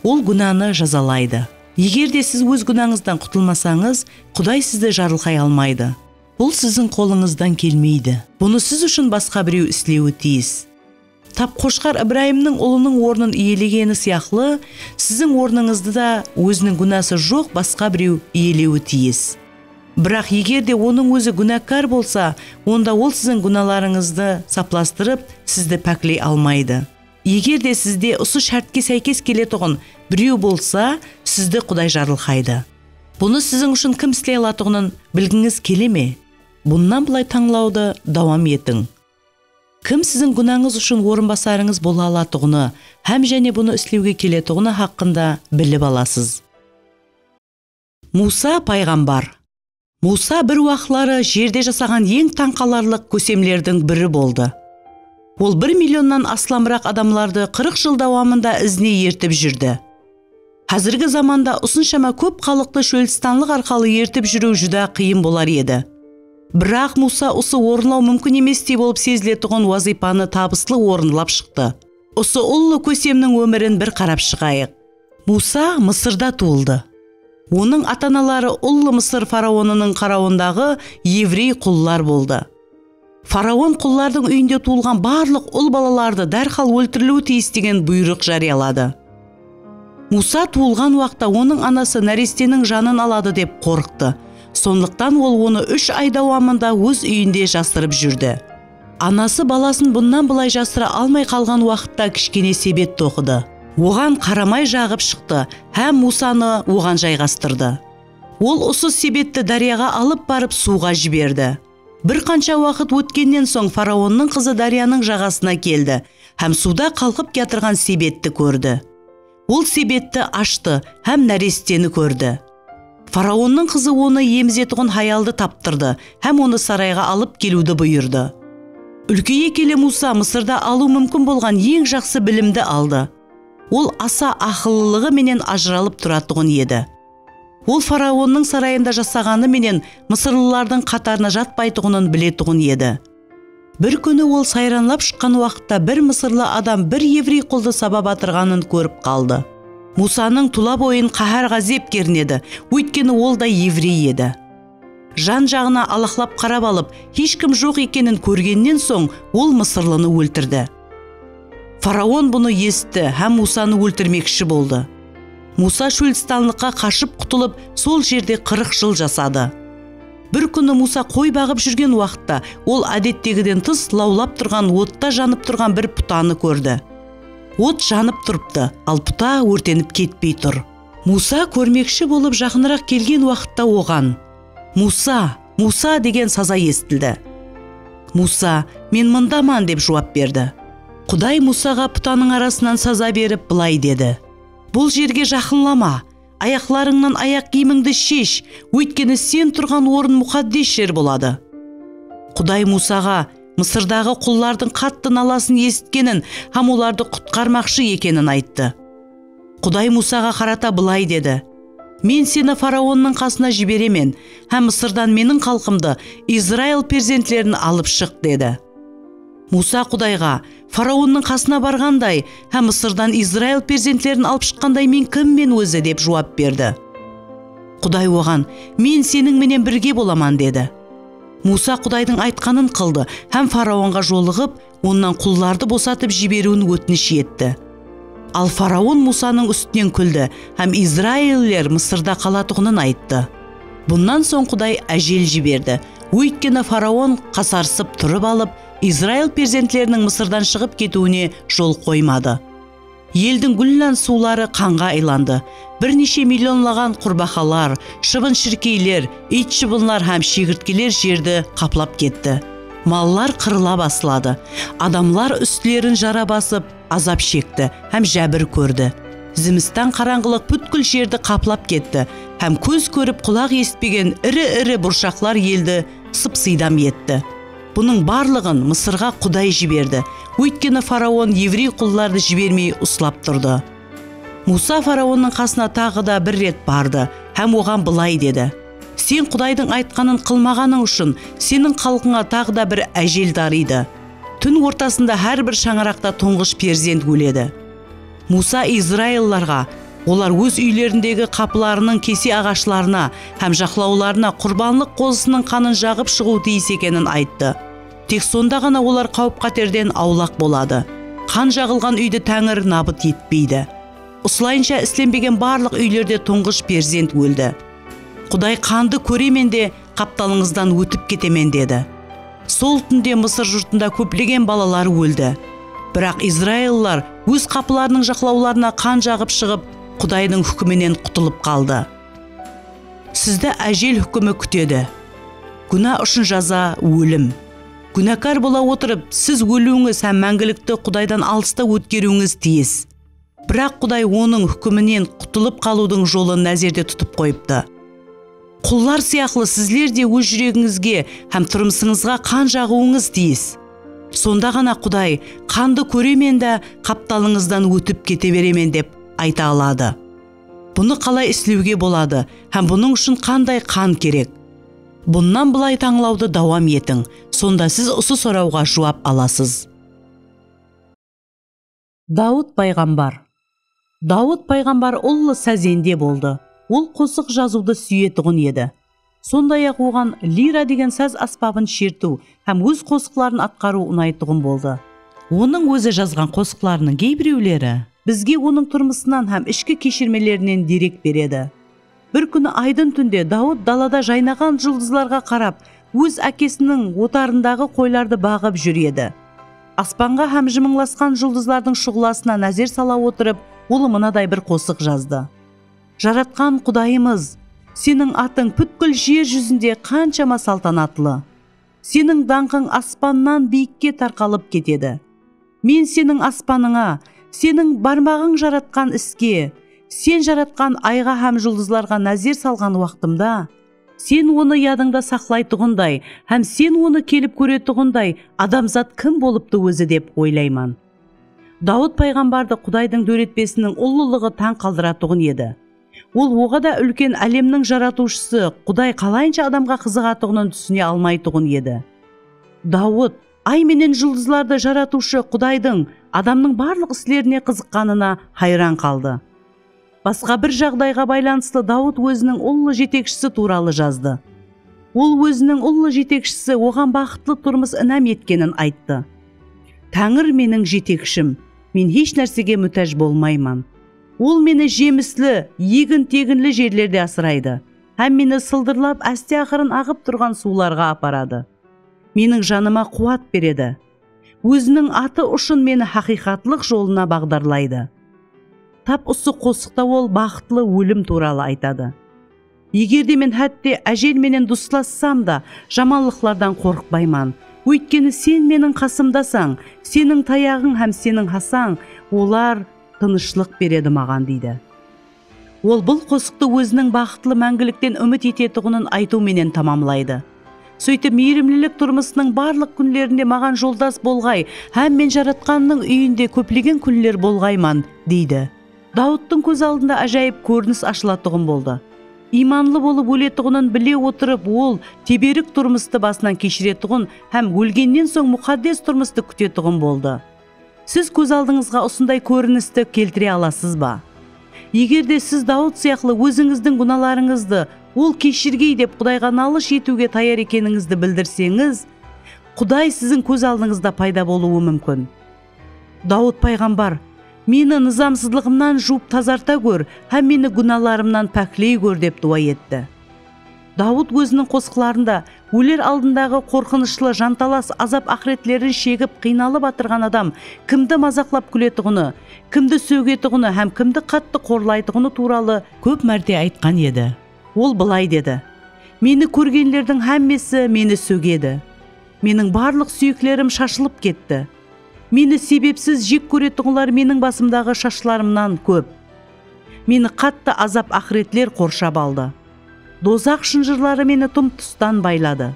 Ol gúnanı jazalaydı. Eger de siz óz gúnańızdan qutılmasańız, Quday sizdi jarılqay almaydı. Bul siziń qolıńızdan kelmeydi. Bunı siz ushın basqa birew islewi tiyis. Tap Qoshqar Ibrayımnıń ulınıń ornın iyelegeni sıyaqlı, siziń ornıńızdı da óziniń gúnası joq basqa birew iyelewi tiyis. Biraq eger de onıń ózi gúnákar bolsa, onda ol siziń gúnalarıńızdı saplastırıp, sizdi pákley almaydı. Eger de sizde usı shártke sáykes keletuǵın birew bolsa, sizdi Quday jarılqaydı. Bunı siziń ushın kim isley alatuǵının bilgińiz kele me? Bunnan bılay tańlawdı dawam etiń. Kim siziń gúnańız ushın orınbasarıńız bola alatuǵını hám jáne bunı islewge keletuǵını haqqında bilip alasız. Muwsa payǵambar. Muwsa bir waqıtları jerde jasaǵan eń tań qalarlıq kósemlerdiń biri boldı. Ol bir millionnan aslamıraq adamlardı qırıq jıl dawamında izine ertip júrdi. Házirgi zamanda usınshama kóp xalıqtı shólstanlıq arqalı ertip júriw júdá qıyın bolar edi. Biraq Muwsa usı orınlaw múmkin emestey bolıp seziletuǵın wazıypanı tabıslı orınlap shıqtı. Usı ullı kósemniń ómirin bir qarap shıǵayıq. Muwsa Mısırda tuwıldı. Onıń ata-anaları ullı Mısır faraonınıń qarawındaǵı evrey qullar boldı. Faraon qullardıń úyinde tuwılǵan barlıq ul balalardı dárhal óltiriliwi tiyis degen buyrıq járiyaladı. Muwsa tuwılǵan waqta onıń anası náresteniń janın aladı dep qorqtı. Sonlıqtan ol onı úsh ay dawamında óz úyinde jasırıp júrdi. Anası balasın bunnan bılay jasıra almay qalǵan waqıtta kishkene sebet toqıdı. Oǵan qaramay jaǵıp shıqtı hám Muwsanı oǵan jayǵastırdı. Ol usı sebetti dáryaǵa alıp barıp suwǵa jiberdi. Bir qansha waqıt ótkennen soń faraonnıń qızı dáryanıń jaǵasına keldi hám suwda qalqıp kiyatırǵan sebetti kórdi. Ol sebetti ashtı hám náresteni kórdi. Faraonnıń qızı onı emizetuǵın hayaldı taptırdı hám onı sarayǵa alıp keliwdi buyırdı. Úlkeye kele Muwsa Mısırda alıw múmkin bolǵan eń jaqsı bilimdi aldı. Ol asa aqıllılıǵı menen ajıralıp turatuǵın edi. Ol faraonnıń sarayında jasaǵanı menen mısırlılardıń qatarına jatpaytuǵının biletuǵın edi. Bir kúni ol sayranlap shıqqan waqıtta bir mısırlı adam bir evrey quldı sabap atırǵanın kórip qaldı. Muwsanıń tula boyın qáhár-ǵázep kernedi, óytkeni ol da evrey edi. Jan-jaǵına alaqlap qarap alıp, hesh kim joq ekenin kórgennen soń, ol mısırlını óltirdi. Faraon bunı esitti hám Musanı óltirmekshi boldı. Musa shóldistanlıqqa qashıp qutılıp, sol jerde qırıq jıl jasadı. Bir kúni Musa qoy baǵıp júrgen waqıtta, ol ádettegiden tıs lawlap turǵan otta janıp turǵan bir putanı kórdi. Ot janıp turıptı, al puta órtenip ketpey tur. Muwsa kórmekshi bolıp jaqınıraq kelgen waqıtta oǵan, Muwsa! Muwsa! degen saza esitildi. Muwsa, Men mındaman, dep juwap berdi. Quday Muwsaǵa putanıń arasınan saza berip, bılay dedi, Bul jerge jaqınlama, ayaqlarıńnan ayaq kiyimińdi shesh, óytkeni sen turǵan orın muqaddes jer boladı. Quday Muwsaǵa Mısırdaǵı qullardıń qattı nalasın esitkenin hám olardı qutqarmaqshı ekenin ayttı. Quday Muwsaǵa qarata bılay dedi, Men seni faraonnıń qasına jiberemen, hám Mısırdan Meniń xalqımdı, Izrail perzentlerin alıp shıq, dedi. Muwsa Qudayǵa, Faraonnıń qasına barǵanday hám Mısırdan Izrail perzentlerin alıp shıqqanday men kimmen ózi? dep juwap berdi. Quday oǵan, Men seniń menen birge bolaman, dedi. Muwsa Qudaydıń aytqanın qıldı hám faraonǵa jolıǵıp, onnan qullardı bosatıp jiberiwin ótinish etti. Al faraon Musanıń ústinen kúldi hám izrailliler Mısırda qalatuǵının ayttı. Bunnan soń Quday ájel jiberdi, óytkeni faraon qasarısıp turıp alıp, Izrail perzentleriniń Mısırdan shıǵıp ketiwine jol qoymadı. Eldiń gúllan suwları qanǵa aylandı. Bir neshe millionlaǵan qurbaqalar, shıbın-shirkeyler, iyt-shıbınlar hám shegirtkeler jerdi qaplap ketti. Mallar qırıla basladı. Adamlar ústlerin jara basıp, azap shekti hám jábir kórdi. Zimistan qarańǵılıq pútkil jerdi qaplap ketti hám kóz kórip, qulaq esitpegen iri-iri burshaqlar eldi sıp-sıydam etti. Bunıń barlıǵın Mısırǵa Quday jiberdi, óytkeni faraon evrey qullardı jibermey uslap turdı. Muwsa faraonnıń qasına taǵı da bir ret bardı hám oǵan bılay dedi, Sen Qudaydıń aytqanın qılmaǵanıń ushın, seniń xalqıńa taǵı da bir ájel darıydı. Tún ortasında hár bir shańaraqta tuńǵısh perzent óledi. Muwsa izraillarǵa, Olar óz úylerindegi qapılarınıń kese aǵashlarına hám jaqlawlarına qurbanlıq qozısınıń qanın jaǵıp shıǵıw tiyis ekenin ayttı. Tek sonda ǵana olar qáwip-qáterden awlaq boladı. Qan jaǵılǵan úydi Táńir nabıt etpeydi. Usılayınsha islenbegen barlıq úylerde tuńǵısh perzent óldi. Quday qandı kóremen de, Qaptalıńızdan ótip ketemen, dedi. Sol túnde Mısır jurtında kóplegen balalar óldi. Biraq izraillılar óz qapılarınıń jaqlawlarına qan jaǵıp shıǵıp, Qudaydıń húkiminen qutılıp qaldı. Sizdi ájel húkimi kútedi. Gúna ushın jaza, ólim. Gúnakar bola otırıp, siz óliwińiz hám máńgilikti Qudaydan alısta ótkeriwińiz tiyis. Biraq Quday onıń húkiminen qutılıp qalıwdıń jolın názerde tutıp qoyıptı. Qullar sıyaqlı sizler de óz júregińizge hám turmısıńızǵa qan jaǵıwıńız tiyis. Sonda ǵana Quday qandı kóremen dá qaptalıńızdan ótip kete beremen dep ayta aladı. Bunı qalay islewge boladı hám bunıń ushın qanday qan kerek? Bunnan bılay tańlawdı dawam etiń, sonda siz usı sorawǵa juwap alasız. Dawıt payǵambar Dawıt payǵambar ullı sazende boldı. Ol qosıq jazıwdı súyetuǵın edi. Sonday-aq oǵan lira degen saz ásbabın shertiw hám óz qosıqların atqarıw unaytuǵın boldı. Onıń ózi jazǵan qosıqlarınıń geybirewleri bizge onıń turmısınan hám ishki keshirmelerinen derek beredi. Bir kúni aydın túnde Dawıt dalada jaynaǵan juldızlarǵa qarap, óz ákesiniń otarındaǵı qoylardı baǵıp júr edi. Aspanǵa hám jımıńlasqan juldızlardıń shuǵlasına názer sala otırıp, ol mınaday bir qosıq jazdı, Jaratqan Qudayımız! Seniń atıń pútkil jer júzinde qanshama saltanatlı! Seniń dańqıń aspannan biyikke tarqalıp ketedi. Men Seniń aspanıńa, Seniń barmaǵıń jaratqan iske, Sen jaratqan ayǵa hám juldızlarǵa názer salǵan waqtımda, Sen onı yadıńda saqlaytuǵınday hám Sen onı kelip kóretuǵınday adamzat kim bolıptı ózi dep oylayman. Dawıt payǵambardı Qudaydıń dóretpesiniń ullılıǵı tań qaldıratuǵın edi. Ol oǵada úlken álemniń Jaratıwshısı, Quday qalayınsha adamǵa qızıǵatuǵının túsine almaytuǵın edi. Dawıt, Ay menen juldızlardı Jaratıwshı, Qudaydıń, adamnıń barlıq islerine qızıqqanına hayran qaldı. Basqa bir jaǵdayǵa baylanıslı Dawıt óziniń ullı jetekshisi tuwralı jazdı. Ol óziniń ullı jetekshisi oǵan baxıtlı turmıs inam etkenin ayttı. Táńir meniń jetekshim, men hesh nársege mútáj bolmayman. Ol meni jemisli, egin-teginli jerlerde asıraydı hám meni sıldırlap áste-aqırın aǵıp turǵan suwlarǵa aparadı. Meniń janıma quwat beredi. Óziniń atı ushın meni haqıyqatlıq jolına baǵdarlaydı. Tap usı qosıqta ol baxıtlı ólim tuwralı aytadı. Eger de men hátte ájel menen duslassam da, jamanlıqlardan qorıqpayman. Óytkeni Sen meniń qasımdasań, Seniń tayaǵıń hám Seniń hasań, olar tınıshlıq beredi maǵan, deydi. Ol bul qosıqtı óziniń baxıtlı máńgilikten úmit etetuǵının aytıw menen tamamlaydı. Sóytip, miyrimlilik turmısınıń barlıq kúnlerinde maǵan joldas bolǵay hám men Jaratqannıń úyinde kóplegen kúnler bolǵayman, deydi. Dawıttıń kóz aldında ájayıp kórinis ashılatuǵın boldı. Iymanlı bolıp óletuǵının bile otırıp, ol teberik turmıstı basınan keshiretuǵın hám ólgennen soń muxaddes turmıstı kútetuǵın boldı. Siz kóz aldıńızǵa usınday kórinisti keltire alasız ba? Egerde siz Dawıt sıyaqlı ózińizdiń gúnalarıńızdı Ol keshirgey dep Qudayǵa nalısh etiwge tayar ekenińizdi bildirseńiz, Quday siziń kóz aldıńızda payda bolıwı múmkin. Dawıt payǵambar, Meni nızamsızlıǵımnan juwıp tazarta gór hám meni gúnalarımnan pákley gór dep duwa etti. Dawıt óziniń qosıqlarında óler aldındaǵı qorqınıshlı jantalas azap-aqıretlerin shegip qıynalıp atırǵan adam kimdi mazaqlap-kúletuǵını, kimdi sógetuǵını hám kimdi qattı qorlaytuǵını tuwralı kóp márte aytqan edi. Ol bılay dedi, Meni kórgenlerdiń hámmesi Meni sógedi. Meniń barlıq súyeklerim shashılıp ketti. Meni sebepsiz jek kóretuǵınlar meniń basımdaǵı shashlarımnan kóp. Meni qattı azap aqıretler qorshap aldı. Dozax shınjırları meni tım tustan bayladı.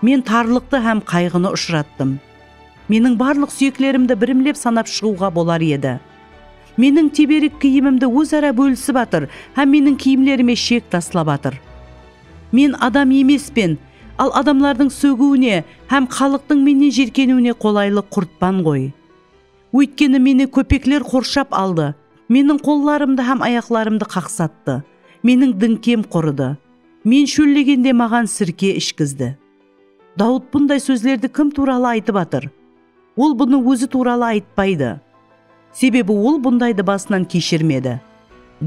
Men tarlıqtı hám qayǵını ushırattım. Meniń barlıq súyeklerimdi birimlep sanap shıǵıwǵa bolar edi. Meniń teberik kiyimimdi óz-ara bólisip atır hám meniń kiyimlerime shek taslap atır. Men adam emespen, al adamlardıń sógiwine hám xalıqtıń mennen jirkeniwine qolaylı qurtpan ǵoy. Óytkeni meni kópekler qorshap aldı, meniń qollarımdı hám ayaqlarımdı qaqsattı, meniń dińkem qurıdı, men shóllegende maǵan sirke ishkizdi. Dawıt bunday sózlerdi kim tuwralı aytıp atır? Ol bunı ózi tuwralı aytpaydı. Sebebi ol bundaydı basınan keshirmedi.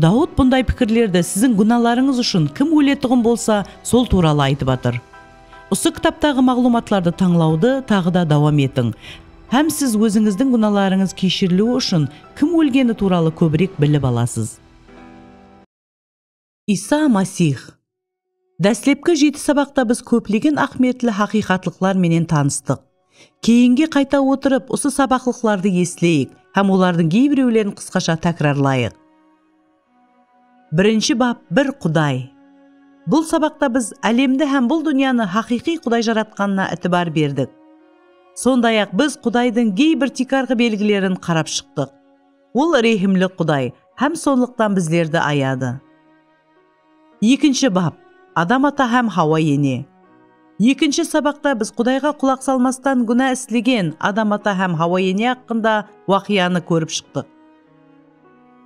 Dawıt bunday pikirlerdi siziń gúnalarıńız ushın kim óletuǵın bolsa, sol tuwralı aytıp atır. Usı kitaptaǵı maǵlıwmatlardı tańlawdı taǵı da dawam etiń hám siz ózińizdiń gúnalarıńız keshiriliwi ushın kim ólgeni tuwralı kóbirek bilip alasız. Iysa Masix. Dáslepki jeti sabaqta biz kóplegen áhmiyetli haqıyqatlıqlar menen tanıstıq. Keyinge qayta otırıp, usı sabaqlıqlardı esleyik hám olardıń geybirewlerin qısqasha tákirarlayıq. Birinshi bap Bir Quday. Bul sabaqta biz álemdi hám bul dúnyanı haqıyqıy Quday jaratqanına itibar berdik. Sonday-aq, biz Qudaydıń geybir tiykarǵı belgilerin qarap shıqtıq. Ol rehimli Quday hám sonlıqtan bizlerdi ayadı. Ekinshi bap, Adam ata hám Hawa ene. Ekinshi sabaqta biz Qudayǵa qulaq salmastan gúna islegen Adam ata hám Hawa ene haqqında waqıyanı kórip shıqtıq.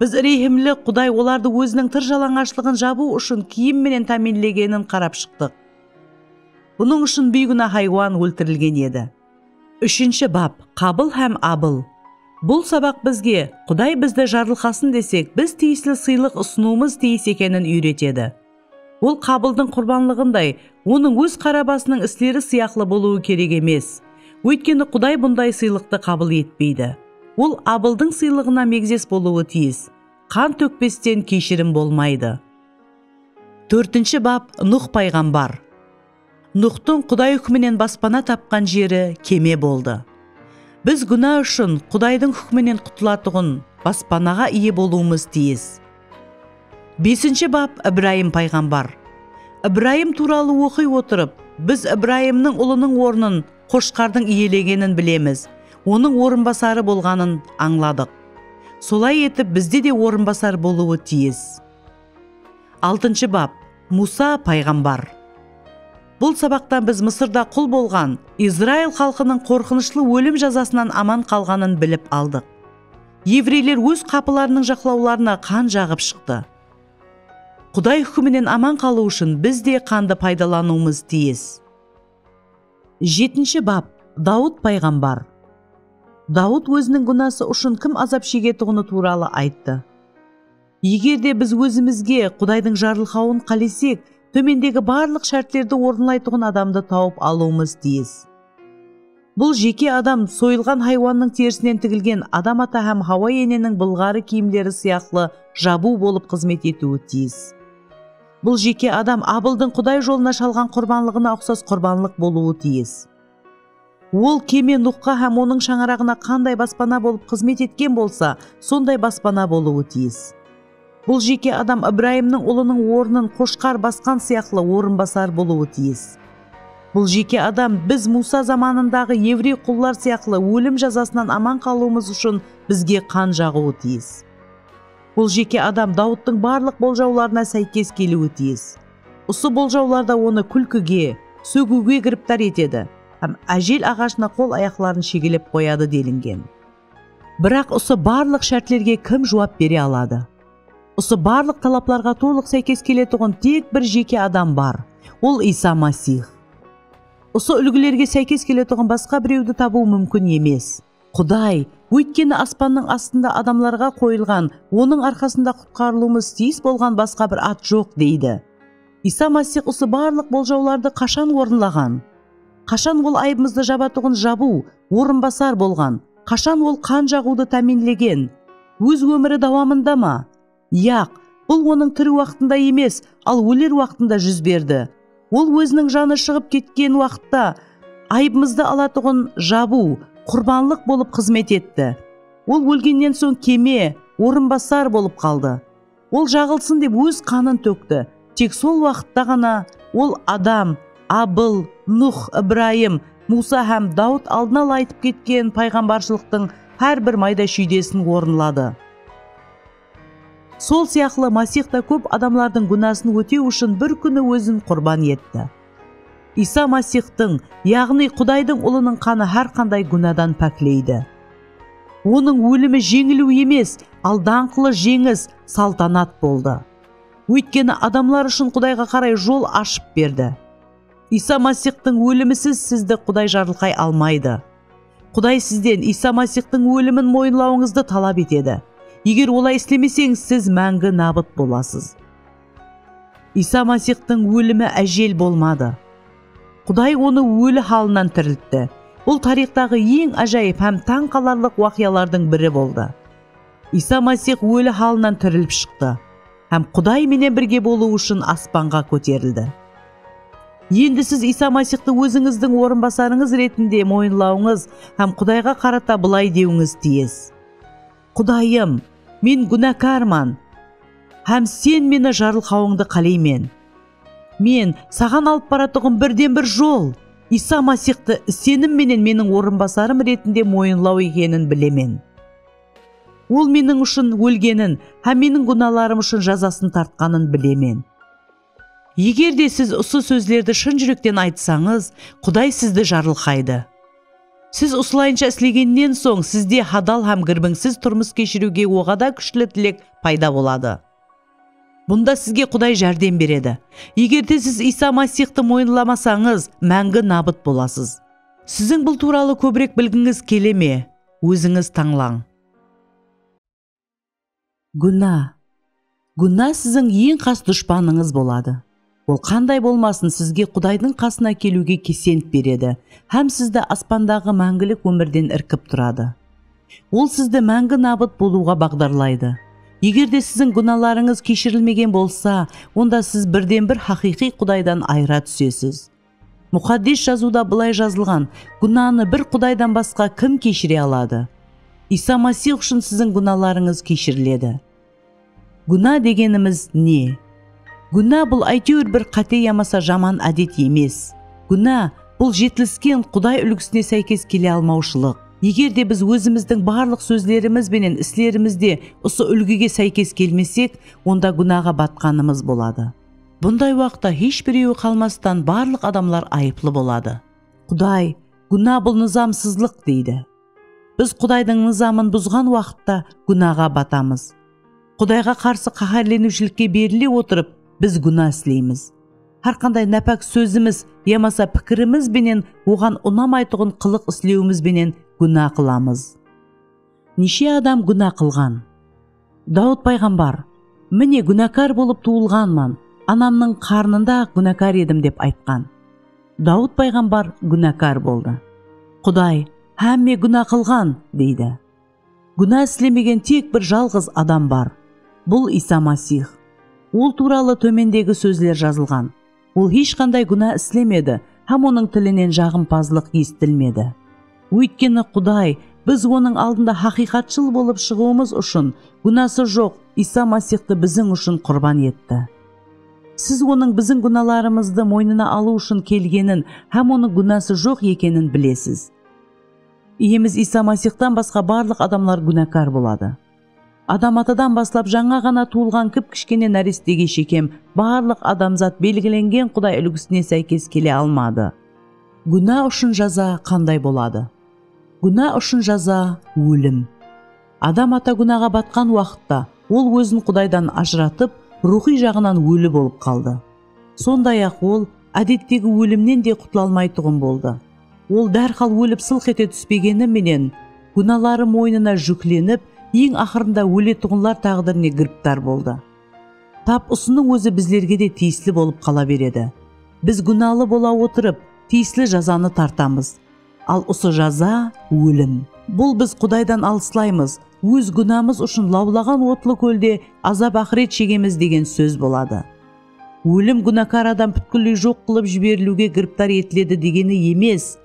Biz rehimli Quday olardı Óziniń tır jalańashlıǵın jabıw ushın kiyim menen támiynlegenin qarap shıqtıq. Bunıń ushın biyguná haywan óltirilgen edi. Úshinshi bap, Qabıl hám Abıl. Bul sabaq bizge, Quday bizdi jarılqasın desek, biz tiyisli sıylıq usınıwımız tiyis ekenin úyretedi. Ol Qabıldıń qurbanlıǵınday, onıń óz qara basınıń isleri sıyaqlı bolıwı kerek emes. Óytkeni Quday bunday sıylıqtı qabıl etpeydi. Ol Abıldıń sıylıǵına megzes bolıwı tiyis. Qan tókpesten keyshirim bolmaydı. Tórtinshi bap, Nuh payǵambar. Nuxtıń Quday húkiminen baspana tapqan jeri keme boldı. Biz gúna ushın Qudaydıń húkiminen qutılatuǵın baspanaǵa iye bolıwımız tiyis. Besinshi bap Ibrayım payǵambar. Ibrayım tuwralı oqıy otırıp, biz Ibrayımnıń ulınıń ornın qoshqardıń iyelegenin bilemiz, onıń orınbasarı bolǵanın ańladıq. Solay etip bizde de orınbasar bolıwı tiyis. Altınshı bap, Muwsa payǵambar. Bul sabaqta biz Mısırda qul bolǵan Izrail xalqınıń qorqınıshlı ólim jazasınan aman qalǵanın bilip aldıq. Evreyler óz qapılarınıń jaqlawlarına qan jaǵıp shıqtı. Quday húkiminen aman qalıw ushın biz de qandı paydalanıwımız tiyis. Jetinshi bap, Dawıt payǵambar. Dawıt óziniń gúnası ushın kim azap shegetuǵını tuwralı ayttı. Eger de biz ózimizge Qudaydıń jarılqawın qálesek, tómendegi barlıq shártlerdi orınlaytuǵın adamdı tawıp alıwımız tiyis. Bul jeke adam soyılǵan haywannıń terisinen tigilgen Adam ata hám Hawa eneniń bılǵarı kiyimleri sıyaqlı jabıw bolıp xızmet etiwi tiyis. Bul jeke adam Abıldıń Quday jolına shalǵan qurbanlıǵına uqsas qurbanlıq bolıwı tiyis. Ol keme Nuxqa hám onıń shańaraǵına qanday baspana bolıp xızmet etken bolsa, sonday baspana bolıwı tiyis. Bul jeke adam Ibrayımnıń ulınıń ornın qoshqar basqan sıyaqlı orınbasar bolıwı tiyis. Bul jeke adam biz Muwsa zamanındaǵı evrey qullar sıyaqlı ólim jazasınan aman qalıwımız ushın bizge qan jaǵıwı tiyis. Bul jeke adam Dawıttıń barlıq boljawlarına sáykes keliwi tiyis. Usı boljawlar da onı kúlkige, sógiwge giriptar etedi hám ájel aǵashına qol-ayaqların shegelep qoyadı delingen. Biraq usı barlıq shártlerge kim juwap bere aladı? Usı barlıq talaplarǵa tolıq sáykes keletuǵın tek bir jeke adam bar, ol Iysa Masix. Usı úlgilerge sáykes keletuǵın basqa birewdi tabıw múmkin emes. Quday, óytkeni aspannıń astında adamlarǵa qoyılǵan, Onıń arqasında qutqarılıwımız tiyis bolǵan basqa bir at joq, deydi. Iysa Masix usı barlıq boljawlardı qashan orınlaǵan? Qashan Ol ayıbımızdı jabatuǵın Jabıw, Orınbasar, bolǵan? Qashan Ol qan jaǵıwdı támiynlegen? Óz ómiri dawamında ma? Yaq, bul onıń tiri waqtında emes, al óler waqtında júz berdi. Ol óziniń janı shıǵıp ketken waqıtta ayıbımızdı alatuǵın jabıw, qurbanlıq bolıp xızmet etti. Ol ólgennen soń keme, orınbasar bolıp qaldı. Ol jaǵılsın dep óz qanın tókti. Tek sol waqıtta ǵana Ol Adam, Abıl, Nuh, Ibrayım, Muwsa hám Dawıt aldın ala aytıp ketken payǵambarshılıqtıń hár bir mayda-shúydesin orınladı. Sol sıyaqlı Masix ta kóp adamlardıń gúnasın ótew ushın bir kúni Ózin qurban etti. Iysa Masixtıń, yaǵnıy Qudaydıń Ulınıń qanı hár qanday gúnadan pákleydi. Onıń ólimi jeńiliw emes, al dańqlı jeńis, saltanat boldı. Óytkeni adamlar ushın Qudayǵa qaray jol ashıp berdi. Iysa Masixtıń ólimisiz sizdi Quday jarılqay almaydı. Quday sizden Iysa Masixtıń ólimin moyınlawıńızdı talap etedi. Eger olay islemeseńiz, siz máńgi nabıt bolasız. Iysa Masixtıń ólimi ájel bolmadı. Quday onı óli halınan tiriltti. Bul tariyxtaǵı eń ájayıp hám tań qalarlıq waqıyalardıń biri boldı. Iysa Masix óli halınan tirilip shıqtı hám Quday menen birge bolıw ushın aspanǵa kóterildi. Endi siz Iysa Masixtı ózińizdiń orınbasarıńız retinde moyınlawıńız hám Qudayǵa qarata bılay dewińiz tiyis, Qudayım, men gúnakarman hám Sen meni jarılqawıńdı qáleymen. Men Saǵan alıp baratuǵın birden-bir jol, Iysa Masixtı isenim menen meniń orınbasarım retinde moyınlaw ekenin bilemen. Ol meniń ushın ólgenin hám meniń gúnalarım ushın jazasın tartqanın bilemen. Eger de siz usı sózlerdi shın júrekten aytsańız, Quday sizdi jarılqaydı. Siz usılayınsha islegennen soń, sizde hadal hám girbińsiz turmıs keshiriwge oǵada kúshli tilek payda boladı. Bunda sizge Quday járdem beredi. Eger de siz Iysa Masixtı moyınlamasańız, máńgi nabıt bolasız. Siziń bul tuwralı kóbirek bilgińiz kele me? Ózińiz tańlań. Gúna. Gúna siziń eń qas dushpanıńız boladı. Ol qanday bolmasın sizge Qudaydıń qasına keliwge kesent beredi hám sizdi aspandaǵı máńgilik ómirden irkip turadı. Ol sizdi máńgi nabıt bolıwǵa baǵdarlaydı. Egerde siziń gúnalarıńız keshirilmegen bolsa, onda siz birden-bir haqıyqıy Qudaydan ayıra túsesiz. Muxaddes Jazıwda bılay jazılǵan, Gúnanı bir Qudaydan basqa kim keshire aladı? Iysa Masix ushın siziń gúnalarıńız keshiriledi. Gúna degenimiz ne? Gúna bul áytewir bir qáte yamasa jaman ádet emes. Gúna, bul jetilisken Quday úlgisine sáykes kele almawshılıq. Eger de biz ózimizdiń barlıq sózlerimiz benen islerimizde usı úlgige sáykes kelmesek, onda gúnaǵa batqanımız boladı. Bunday waqıtta hesh birewi qalmastan barlıq adamlar ayıplı boladı. Quday, gúna bul nızamsızlıq deydi. Biz Qudaydıń nızamın buzǵan waqıtta gúnaǵa batamız. Qudayǵa qarsı qáhárleniwshilikke berile otırıp biz gúna isleymiz. Hár qanday nápák sózimiz yamasa pikirimiz benen Oǵan unamaytuǵın qılıq islewimiz benen gúna qılamız. Neshe adam gúna qılǵan? Dawıt payǵambar, Mine, gúnakar bolıp tuwılǵanman, anamnıń qarnında-aq gúnakar edim dep aytqan. Dawıt payǵambar gúnakar boldı. Quday, Hámme gúna qılǵan! deydi. Gúna islemegen tek bir jalǵız adam bar. Bul Iysa Masix. Ol tuwralı tómendegi sózler jazılǵan. Ol hesh qanday gúna islemedi hám onıń tilinen jaǵımpazlıq esitilmedi. Óytkeni Quday biz Onıń aldında haqıyqatshıl bolıp shıǵıwımız ushın gúnası joq Iysa Masixtı biziń ushın qurban etti. Siz Onıń biziń gúnalarımızdı moynına alıw ushın kelgenin hám Onıń gúnası joq ekenin bilesiz. Iyemiz Iysa Masixtan basqa barlıq adamlar gúnakar boladı. Adam atadan baslap jańa ǵana tuwılǵan kip-kishkene nárestege shekem barlıq adamzat belgilengen Quday úlgisine sáykes kele almadı. Gúna ushın jaza qanday boladı? Gúna ushın jaza, ólim. Adam ata gúnaǵa batqan waqıtta, ol ózin Qudaydan ajıratıp, ruwxıy jaǵınan óli bolıp qaldı. Sonday-aq, ol ádettegi ólimnen de qutla almaytuǵın boldı. Ol dárhal ólip sılq ete túspegeni menen, gúnaları moynına júklenip, eń aqırında óletuǵınlar táǵdirine giriptar boldı. Tap usınıń ózi bizlerge de tiyisli bolıp qala beredi. Biz gúnalı bola otırıp, tiyisli jazanı tartamız. Al usı jaza, ólim. Bul biz Qudaydan alıslaymız, óz gúnamız ushın lawlaǵan otlı kólde azap-aqıret shegemiz degen sóz boladı. Ólim gúnakar adam pútkilley joq qılıp jiberiliwge giriptar etiledi degeni emes,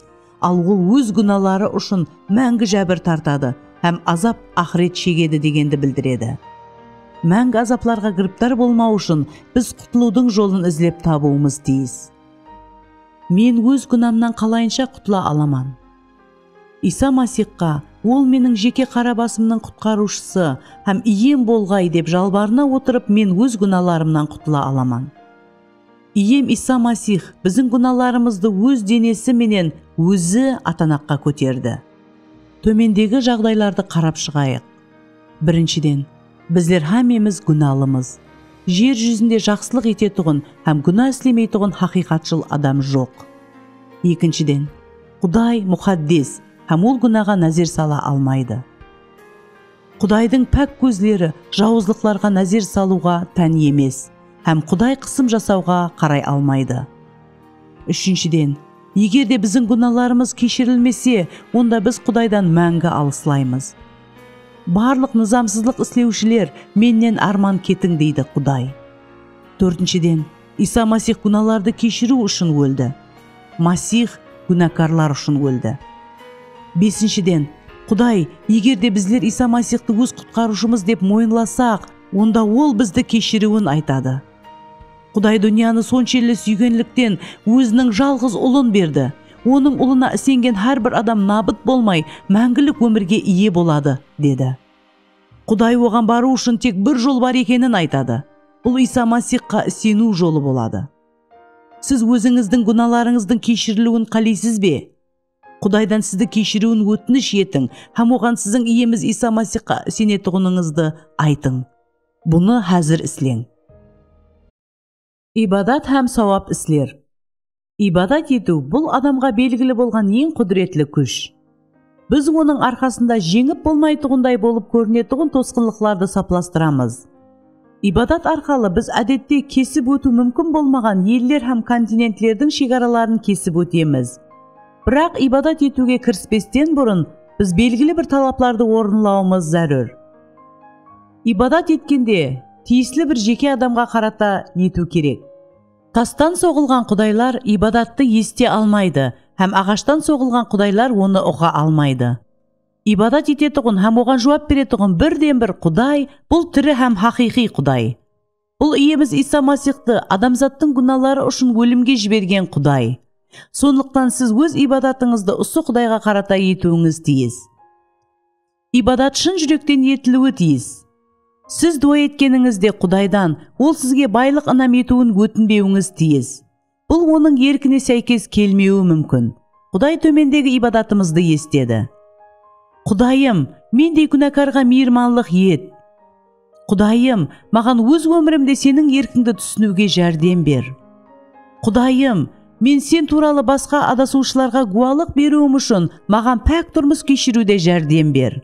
al ol óz gúnaları ushın máńgi jábir tartadı hám azap-aqıret shegedi degendi bildiredi. Máńgi azaplarǵa giriptar bolmaw ushın biz qutılıwdıń jolın izlep tabıwımız tiyis. Men óz gúnamnan qalayınsha qutıla alaman? Iysa Masixqa, Ol meniń jeke qara basımnıń Qutqarıwshısı hám Iyem bolǵay dep jalbarına otırıp men óz gúnalarımnan qutıla alaman. Iyem Iysa Masix biziń gúnalarımızdı Óz denesi menen Ózi atanaqqa kóterdi. Tómendegi jaǵdaylardı qarap shıǵayıq. Birinshiden, Bizler hámmemiz gúnalımız. Jer júzinde jaqsılıq etetuǵın hám gúna islemeytuǵın haqıyqatshıl adam joq. Ekinshiden, Quday muxaddes hám Ol gúnaǵa názer sala almaydı. Qudaydıń pák kózleri jawızlıqlarǵa názer salıwǵa tán emes hám Quday qısım jasawǵa qaray almaydı. Úshinshiden, eger de biziń gúnalarımız keshirilmese, onda biz Qudaydan máńgi alıslaymız. Barlıq nızamsızlıq islewshiler mennen árman ketiń deydi Quday. Tórtinshiden, Iysa Masix gúnalardı keshiriw ushın óldi. Masix gúnakarlar ushın óldi. Besinshiden, Quday, eger de bizler Iysa Masixtı óz Qutqarıwshımız dep moyınlasaq, onda Ol bizdi keshiriwin aytadı. Quday dúnyanı sonshelli súygenlikten Óziniń jalǵız Ulın berdi. Onıń Ulına isengen hár bir adam nabıt bolmay, máńgilik ómirge iye boladı, dedi. Quday Oǵan barıw ushın tek bir jol bar ekenin aytadı. Bul Iysa Masixqa iseniw jolı boladı. Siz ózińizdiń gúnalarıńızdıń keshiriliwin qáleysiz be? Qudaydan sizdi keshiriwin ótinish etiń hám oǵan siziń Iyemiz Iysa Masixqa isenetuǵınıńızdı aytıń. Bunı házir isleń. Ibadat hám sawap isler. Ibadat etiw, bul adamǵa belgili bolǵan eń qúdiretli kúsh. Biz onıń arqasında jeńip bolmaytuǵınday bolıp kórinetuǵın tosqınlıqlardı saplastıramız. Ibadat arqalı biz ádette kesip ótiw múmkin bolmaǵan eller hám kontinentlerdiń shegaraların kesip ótemiz. Biraq ibadat etiwge kirispesten burın biz belgili bir talaplardı orınlawımız zárúr. Ibadat etkende tiyisli bir jeke adamǵa qarata etiw kerek. Tastan soǵılǵan qudaylar ibadattı esite almaydı hám aǵashtan soǵılǵan qudaylar onı uǵa almaydı. Ibadat etetuǵın hám Oǵan juwap beretuǵın birden-bir Quday, bul tiri hám haqıyqıy Quday. Bul Iyemiz Iysa Masixtı adamzattıń gúnaları ushın ólimge jibergen Quday. Sonlıqtan siz óz ibadatıńızdı usı Qudayǵa qarata etiwińiz tiyis. Ibadat shın júrekten etiliwi tiyis. Siz duwa etkenińizde Qudaydan Ol sizge baylıq inam etiwin ótinbewińiz tiyis. Bul onıń erkine sáykes kelmewi múmkin. Quday tómendegi ibadatımızdı esitedi. Qudayım, mendey kúnakarǵa miyirmanlıq et. Qudayım, maǵan óz ómirimde Seniń erkińdi túsiniwge járdem ber. Qudayım, men Sen tuwralı basqa adasıwshılarǵa gúwalıq beriwim ushın maǵan pák turmıs keshiriwde járdem ber.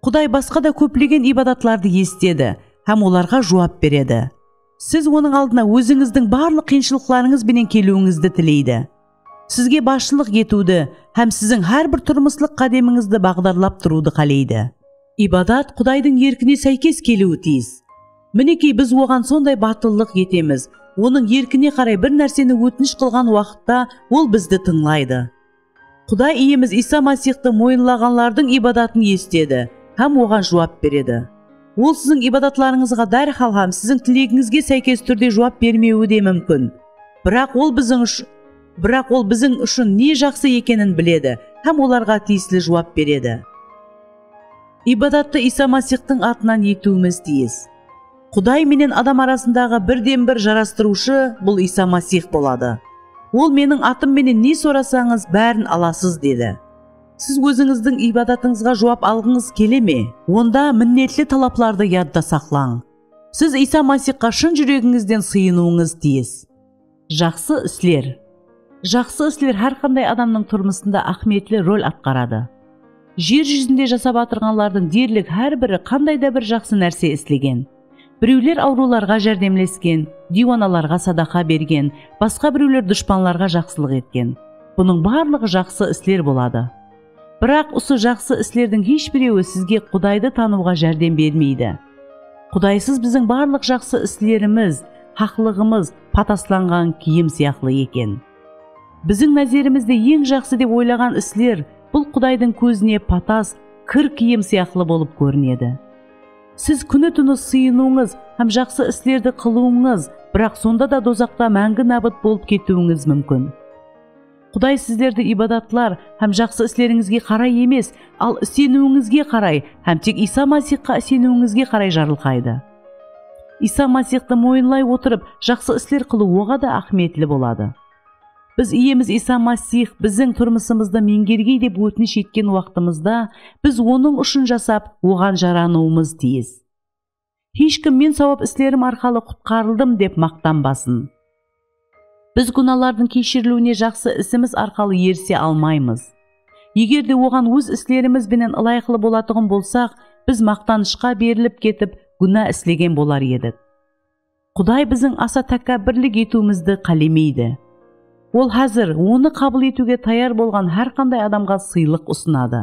Quday basqa da kóplegen ibadatlardı esitedi hám olarǵa juwap beredi. Siz Onıń aldına ózińizdiń barlıq qıyınshılıqlarıńız benen keliwińizdi tileydi. Sizge basshılıq etiwdi hám siziń hár bir turmıslıq qádemińizdi baǵdarlap turıwdı qáleydi. Ibadat Qudaydıń erkine sáykes keliwi tiyis. Minekey, biz Oǵan sonday batıllıq etemiz, Onıń erkine qaray bir nárseni ótinish qılǵan waqıtta Ol bizdi tıńlaydı. Quday Iyemiz Iysa Masixtı moyınlaǵanlardıń ibadatın esitedi hám oǵan juwap beredi. Ol siziń ibadatlarıńızǵa dárhal hám siziń tilegińizge sáykes túrde juwap bermewi de múmkin. Biraq Ol biziń Biraq Ol biziń ushın ne jaqsı ekenin biledi hám olarǵa tiyisli juwap beredi. Ibadattı Iysa Masixtıń atınan etiwimiz tiyis. Quday menen adam arasındaǵı birden-bir jarastırıwshı bul Iysa Masix boladı. Ol meniń atım menen ne sorasańız, bárin alasız, dedi. Siz ózińizdiń iybadatıńızǵa juwap alǵıńız kele me? Onda minnetli talaplardı yadta saqlań. Siz Iysa Masixqa shın júregińizden sıyınıwıńız tiyis. Jaqsı isler. Jaqsı isler hár qanday adamnıń turmısında áhmiyetli rol atqaradı. Jer júzinde jasap atırǵanlardıń derlik hár biri qanday da bir jaqsı nárse islegen. Birewler awrıwlarǵa járdemlesken, diywanalarǵa sadaqa bergen, basqa birewler dushpanlarǵa jaqsılıq etken. Bunıń barlıǵı jaqsı isler boladı. Biraq usı jaqsı islerdiń hesh birewi sizge Qudaydı tanıwǵa járdem bermeydi. Qudaysız biziń barlıq jaqsı islerimiz, haqlıǵımız pataslanǵan kiyim sıyaqlı eken. Biziń názerimizde eń jaqsı dep oylaǵan isler bul Qudaydıń kózine patas, kir kiyim sıyaqlı bolıp kórinedi. Siz kúni-túni sıyınıwıńız hám jaqsı islerdi qılıwıńız, biraq sonda da dozaqta máńgi nábıt bolıp ketiwińiz múmkin. Quday sizlerdi ibadatlar hám jaqsı islerińizge qaray emes, al iseniwińizge qaray hám tek Iysa Masixqa iseniwińizge qaray jarılqaydı. Iysa Masixtı moyınlay otırıp, jaqsı isler qılıw oǵa da áhmiyetli boladı. Biz Iyemiz Iysa Masix biziń turmısımızdı meńgergey dep ótinish etken waqtımızda, biz Onıń ushın jasap, Oǵan jaranıwımız tiyis. Hesh kim men sawap islerim arqalı qutqarıldım dep maqtanbasın. Biz gúnalardıń keshiriliwine jaqsı isimiz arqalı erise almaymız. Eger de oǵan óz islerimiz benen ılayıqlı bolatuǵın bolsaq, biz maqtanıshqa berilip ketip, gúna islegen bolar edik. Quday biziń asa tákábbirlik etiwimizdi qálemeydi. Ol házir Onı qabıl etiwge tayar bolǵan hár qanday adamǵa sıylıq usınadı.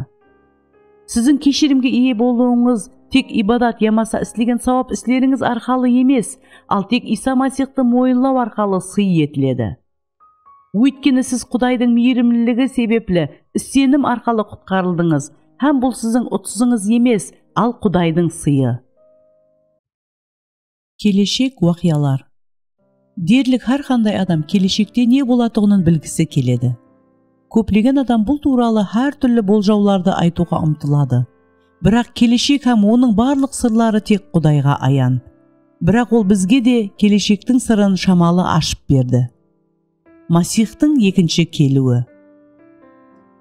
Siziń keshirimge iye bolıwıńız tek ibadat yamasa islegen sawap islerińiz arqalı emes, al tek Iysa Masixtı moyınlaw arqalı sıy etiledi. Óytkeni siz Qudaydıń miyrimliligi sebepli isenim arqalı qutqarıldıńız hám bul siziń utısıńız emes, al Qudaydıń sıyı. Keleshek waqıyalar. Derlik hár qanday adam keleshekte ne bolatuǵının bilgisi keledi. Kóplegen adam bul tuwralı hár túrli boljawlardı aytıwǵa umtıladı. Biraq keleshek hám onıń barlıq sırları tek Qudayǵa ayan. Biraq Ol bizge de keleshektiń sırın shamalı ashıp berdi. Masixtıń ekinshi keliwi.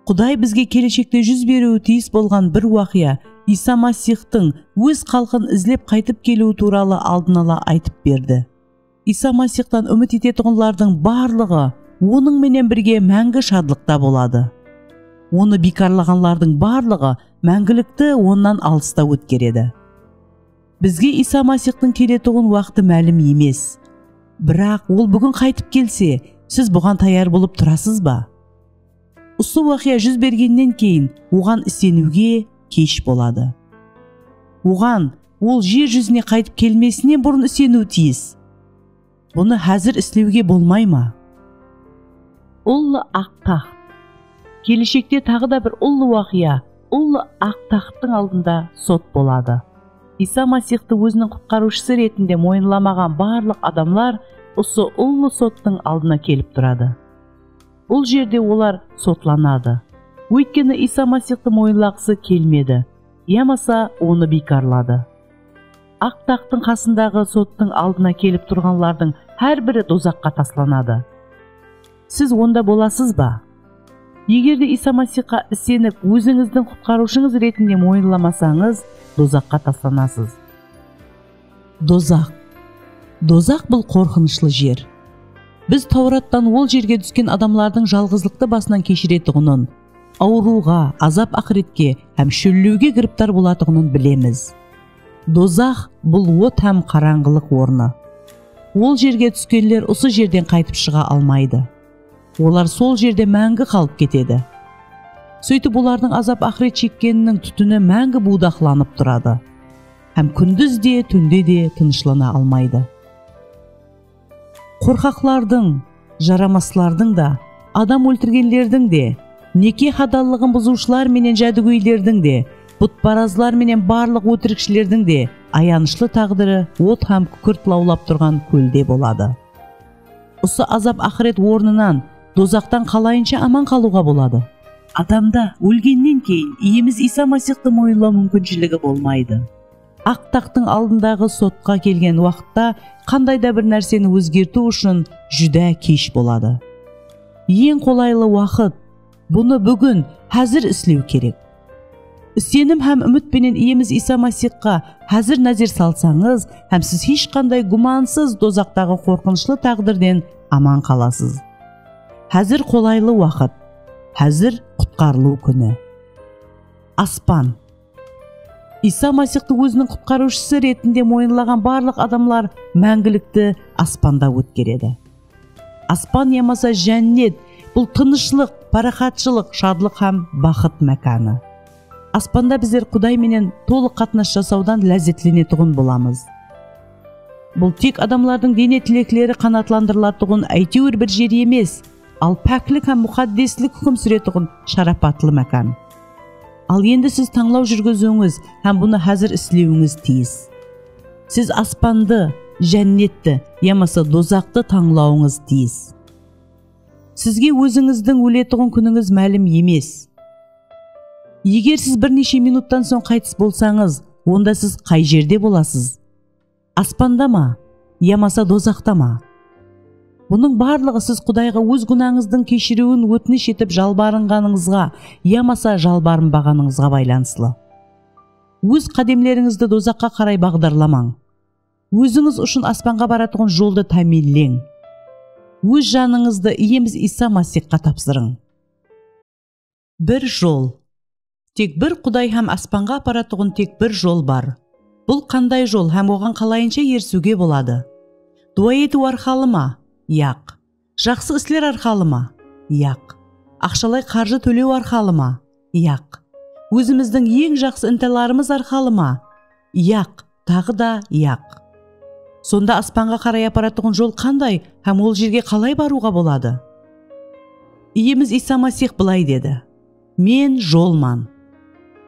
Quday bizge keleshekte júz beriwi tiyis bolǵan bir waqıya, Iysa Masixtıń Óz xalqın izlep qaytıp keliwi tuwralı aldın ala aytıp berdi. Iysa Masixtan úmit etetuǵınlardıń barlıǵı Onıń menen birge máńgi shadlıqta boladı. Onı biykarlaǵanlardıń barlıǵı máńgilikti Onnan alısta ótkeredi. Bizge Iysa Masixtıń keletuǵın waqtı málim emes. Biraq, Ol búgin qaytıp kelse, siz buǵan tayar bolıp turasız ba? Usı waqıya júz bergennen keyin Oǵan iseniwge kesh boladı. Oǵan Ol jer júzine qaytıp kelmesinen burın iseniw tiyis. Bunı házir islewge bolmay ma? Ullı aq taxt. Keleshekte taǵı da bir ullı waqıya, ullı aq taxttıń aldında sot boladı. Iysa Masixtı óziniń Qutqarıwshısı retinde moyınlamaǵan barlıq adamlar usı ullı sottıń aldına kelip turadı. Bul jerde olar sotlanadı, óytkeni Iysa Masixtı moyınlaqısı kelmedi yamasa Onı biykarladı. Aq taxtıń qasındaǵı sottıń aldına kelip turǵanlardıń hár biri dozaqqa taslanadı. Siz onda bolasız ba? Eger de Iysa Masixqa isenip, ózińizdiń Qutqarıwshıńız retinde moyınlamasańız, dozaqqa taslanasız. Dozaq. Dozaq bul qorqınıshlı jer. Biz Tawrattan ol jerge dúsken adamlardıń jalǵızlıqtı basınan keshiretuǵının, awırıwǵa, azap-aqıretke hám shóllewge giriptar bolatuǵının bilemiz. Dozax, bul ot hám qarańǵılıq ornı. Ol jerge túskenler usı jerden qaytıp shıǵa almaydı. Olar sol jerde máńgi qalıp ketedi. Sóytip olardıń azap-aqıret shekkeniniń tútini máńgi buwdaqlanıp turadı hám kúndiz de, túnde de tınıshlana almaydı. Qorqaqlardıń, jaramaslardıń da, adam óltirgenlerdiń de, neke hadallıǵın buzıwshılar menen jádugóylerdiń de, butparazlar menen barlıq ótirikshilerdiń de ayanıshlı taǵdiri ot hám kúkirt lawlap turǵan kólde boladı. Usı azap-aqıret ornınan, dozaqtan qalayınsha aman qalıwǵa boladı? Adamda ólgennen keyin Iyemiz Iysa Masixtı moyınlaw múmkinshiligi bolmaydı. Aq taxtıń aldındaǵı sotqa kelgen waqıtta qanday da bir nárseni ózgertiw ushın júdá kesh boladı. Eń qolaylı waqıt, bunı búgin, házir islew kerek. Isenim hám úmit penen Iyemiz Iysa Masixqa házir názer salsańız hám siz hesh qanday gúmansız dozaqtaǵı qorqınıshlı táǵdirden aman qalasız. Házir qolaylı waqıt. Házir qutqarılıw kúni. Aspan. Iysa Masixtı óziniń Qutqarıwshısı retinde moyınlaǵan barlıq adamlar máńgilikti aspanda ótkeredi. Aspan yamasa Jánnet, bul tınıshlıq, páraxatshılıq, shadlıq hám baxıt mákanı. Aspanda bizler Quday menen tolıq qatnas jasawdan lázzetlenetuǵın bolamız. Bul tek adamlardıń dene tilekleri qanatlandırılatuǵın áytewir bir jer emes, al páklik hám muxaddeslik húkim súretuǵın sharapatlı mákan. Al endi siz tańlaw júrgiziwińiz hám bunı házir islewińiz tiyis. Siz aspandı, Jánnetti, yamasa dozaqtı tańlawıńız tiyis. Sizge ózińizdiń óletuǵın kúnińiz málim emes. Eger siz bir neshe minuttan soń qaytıs bolsańız, onda siz qay jerde bolasız? Aspanda ma, yamasa dozaqta ma? Bunıń barlıǵı siz Qudayǵa óz gúnańızdıń keshiriwin ótinish etip jalbarınǵanıńızǵa yamasa jalbarınbaǵanıńızǵa baylanıslı. Óz qádemlerińizdi dozaqqa qaray baǵdarlamań. Ózińiz ushın aspanǵa baratuǵın joldı támiyinleń. Óz janıńızdı Iyemiz Iysa Masixqa tapsırıń. Bir jol. Tek bir Quday hám aspanǵa aparatuǵın tek bir jol bar. Bul qanday jol hám oǵan qalayınsha erisiwge boladı? Duwa etiw arqalı ma? Yaq. Jaqsı isler arqalı ma? Yaq. Aqshalay qarjı tólew arqalı ma? Yaq. Ózimizdiń eń jaqsı intalarımız arqalı ma? Yaq. Taǵı da yaq. Sonda aspanǵa qaray aparatuǵın jol qanday hám ol jerge qalay barıwǵa boladı? Iyemiz Iysa Masix bılay dedi, Men jolman.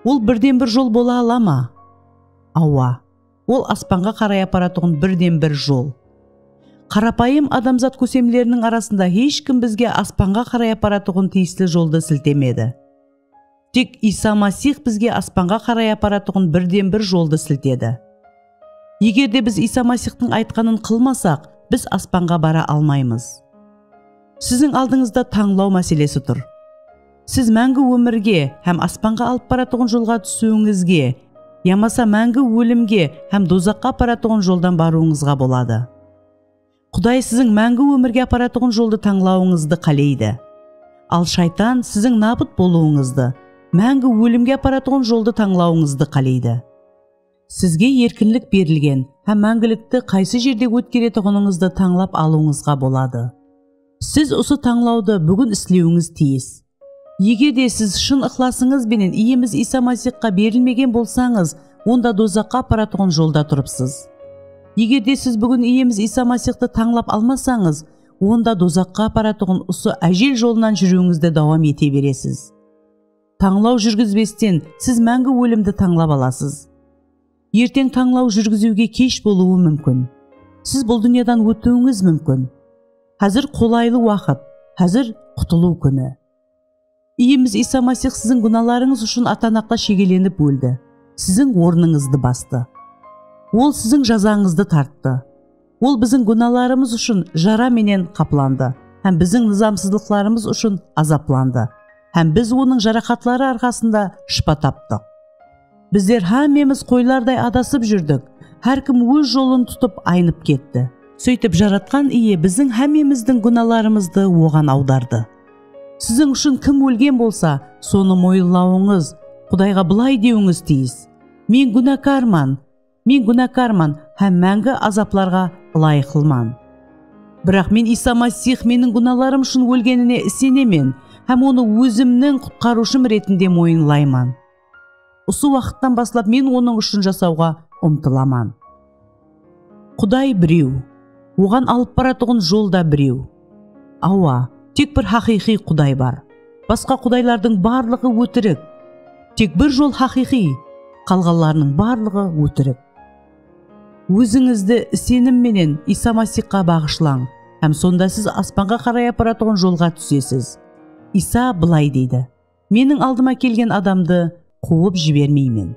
Ol birden-bir jol bola ala ma? Awa, ol aspanǵa qaray aparatuǵın birden-bir jol. Qarapayım adamzat kósemleriniń arasında hesh kim bizge aspanǵa qaray aparatuǵın tiyisli joldı siltemedi. Tek Iysa Masix bizge aspanǵa qaray aparatuǵın birden-bir joldı siltedi. Eger de biz Iysa Masixtıń aytqanın qılmasaq, biz aspanǵa bara almaymız. Siziń aldıńızda tańlaw máselesi tur. Siz máńgi ómirge hám aspanǵa alıp baratuǵın jolǵa túsiwińizge yamasa máńgi ólimge hám dozaqqa aparatuǵın joldan barıwıńızǵa boladı. Quday siziń máńgi ómirge aparatuǵın joldı tańlawıńızdı qáleydi. Al shaytan siziń nabıt bolıwıńızdı, máńgi ólimge aparatuǵın joldı tańlawıńızdı qáleydi. Sizge erkinlik berilgen hám máńgilikti qaysı jerde ótkeretuǵınıńızdı tańlap alıwıńızǵa boladı. Siz usı tańlawdı búgin islewińiz tiyis. Ege de siz shın ıqlasıńız benen Iyemiz Iysa Masixqa berilmegen bolsańız, onda dozaqqa aparatuǵın jolda turıpsız. Eger de siz búgin Iyemiz Iysa Masixtı tańlap almasańız, onda dozaqqa aparatuǵın usı ájel jolınan júriwińizdi dawam ete beresiz. Tańlaw júrgizbesten siz máńgi ólimdi tańlap alasız. Erteń tańlaw júrgiziwge kesh bolıwı múmkin. Siz bul dúnyadan ótiwińiz múmkin. Házir qolaylı waqıt, házir qutılıw kúni. Iyemiz Iysa Masix siziń gúnalarıńız ushın atanaqta shegelenip óldi, siziń ornıńızdı bastı. Ol siziń jazańızdı tarttı. Ol biziń gúnalarımız ushın jara menen qaplandı hám biziń nızamsızlıqlarımız ushın azaplandı, hám biz Onıń jaraqatları arqasında shıpa taptıq. Bizler hámmemiz qoylarday adasıp júrdik, hár kim óz jolın tutıp aynıp ketti. Sóytip Jaratqan Iye biziń hámmemizdiń gúnalarımızdı Oǵan awdardı. Siziń ushın kim ólgen bolsa, sonı moyınlawıńız, Qudayǵa bılay dewińiz tiyis, Men gúnakarman! Men gúnakarman hám máńgi azaplarǵa ılayıqlıman. Biraq men Iysa Masix meniń gúnalarım ushın ólgenine isenemen hám Onı ózimniń Qutqarıwshım retinde moyınlayman. Usı waqıttan baslap men Onıń ushın jasawǵa umtılaman. Quday birew. Oǵan alıp baratuǵın jol da birew. Awa, tek bir haqıyqıy Quday bar. Basqa qudaylardıń barlıǵı ótirik. Tek bir jol haqıyqıy, qalǵanlarınıń barlıǵı ótirik. Ózińizdi isenim menen Iysa Masixqa baǵıshlań hám sonda siz aspanǵa qaray aparatuǵın jolǵa túsesiz. Iysa bılay deydi, Meniń aldıma kelgen adamdı quwıp jibermeymen.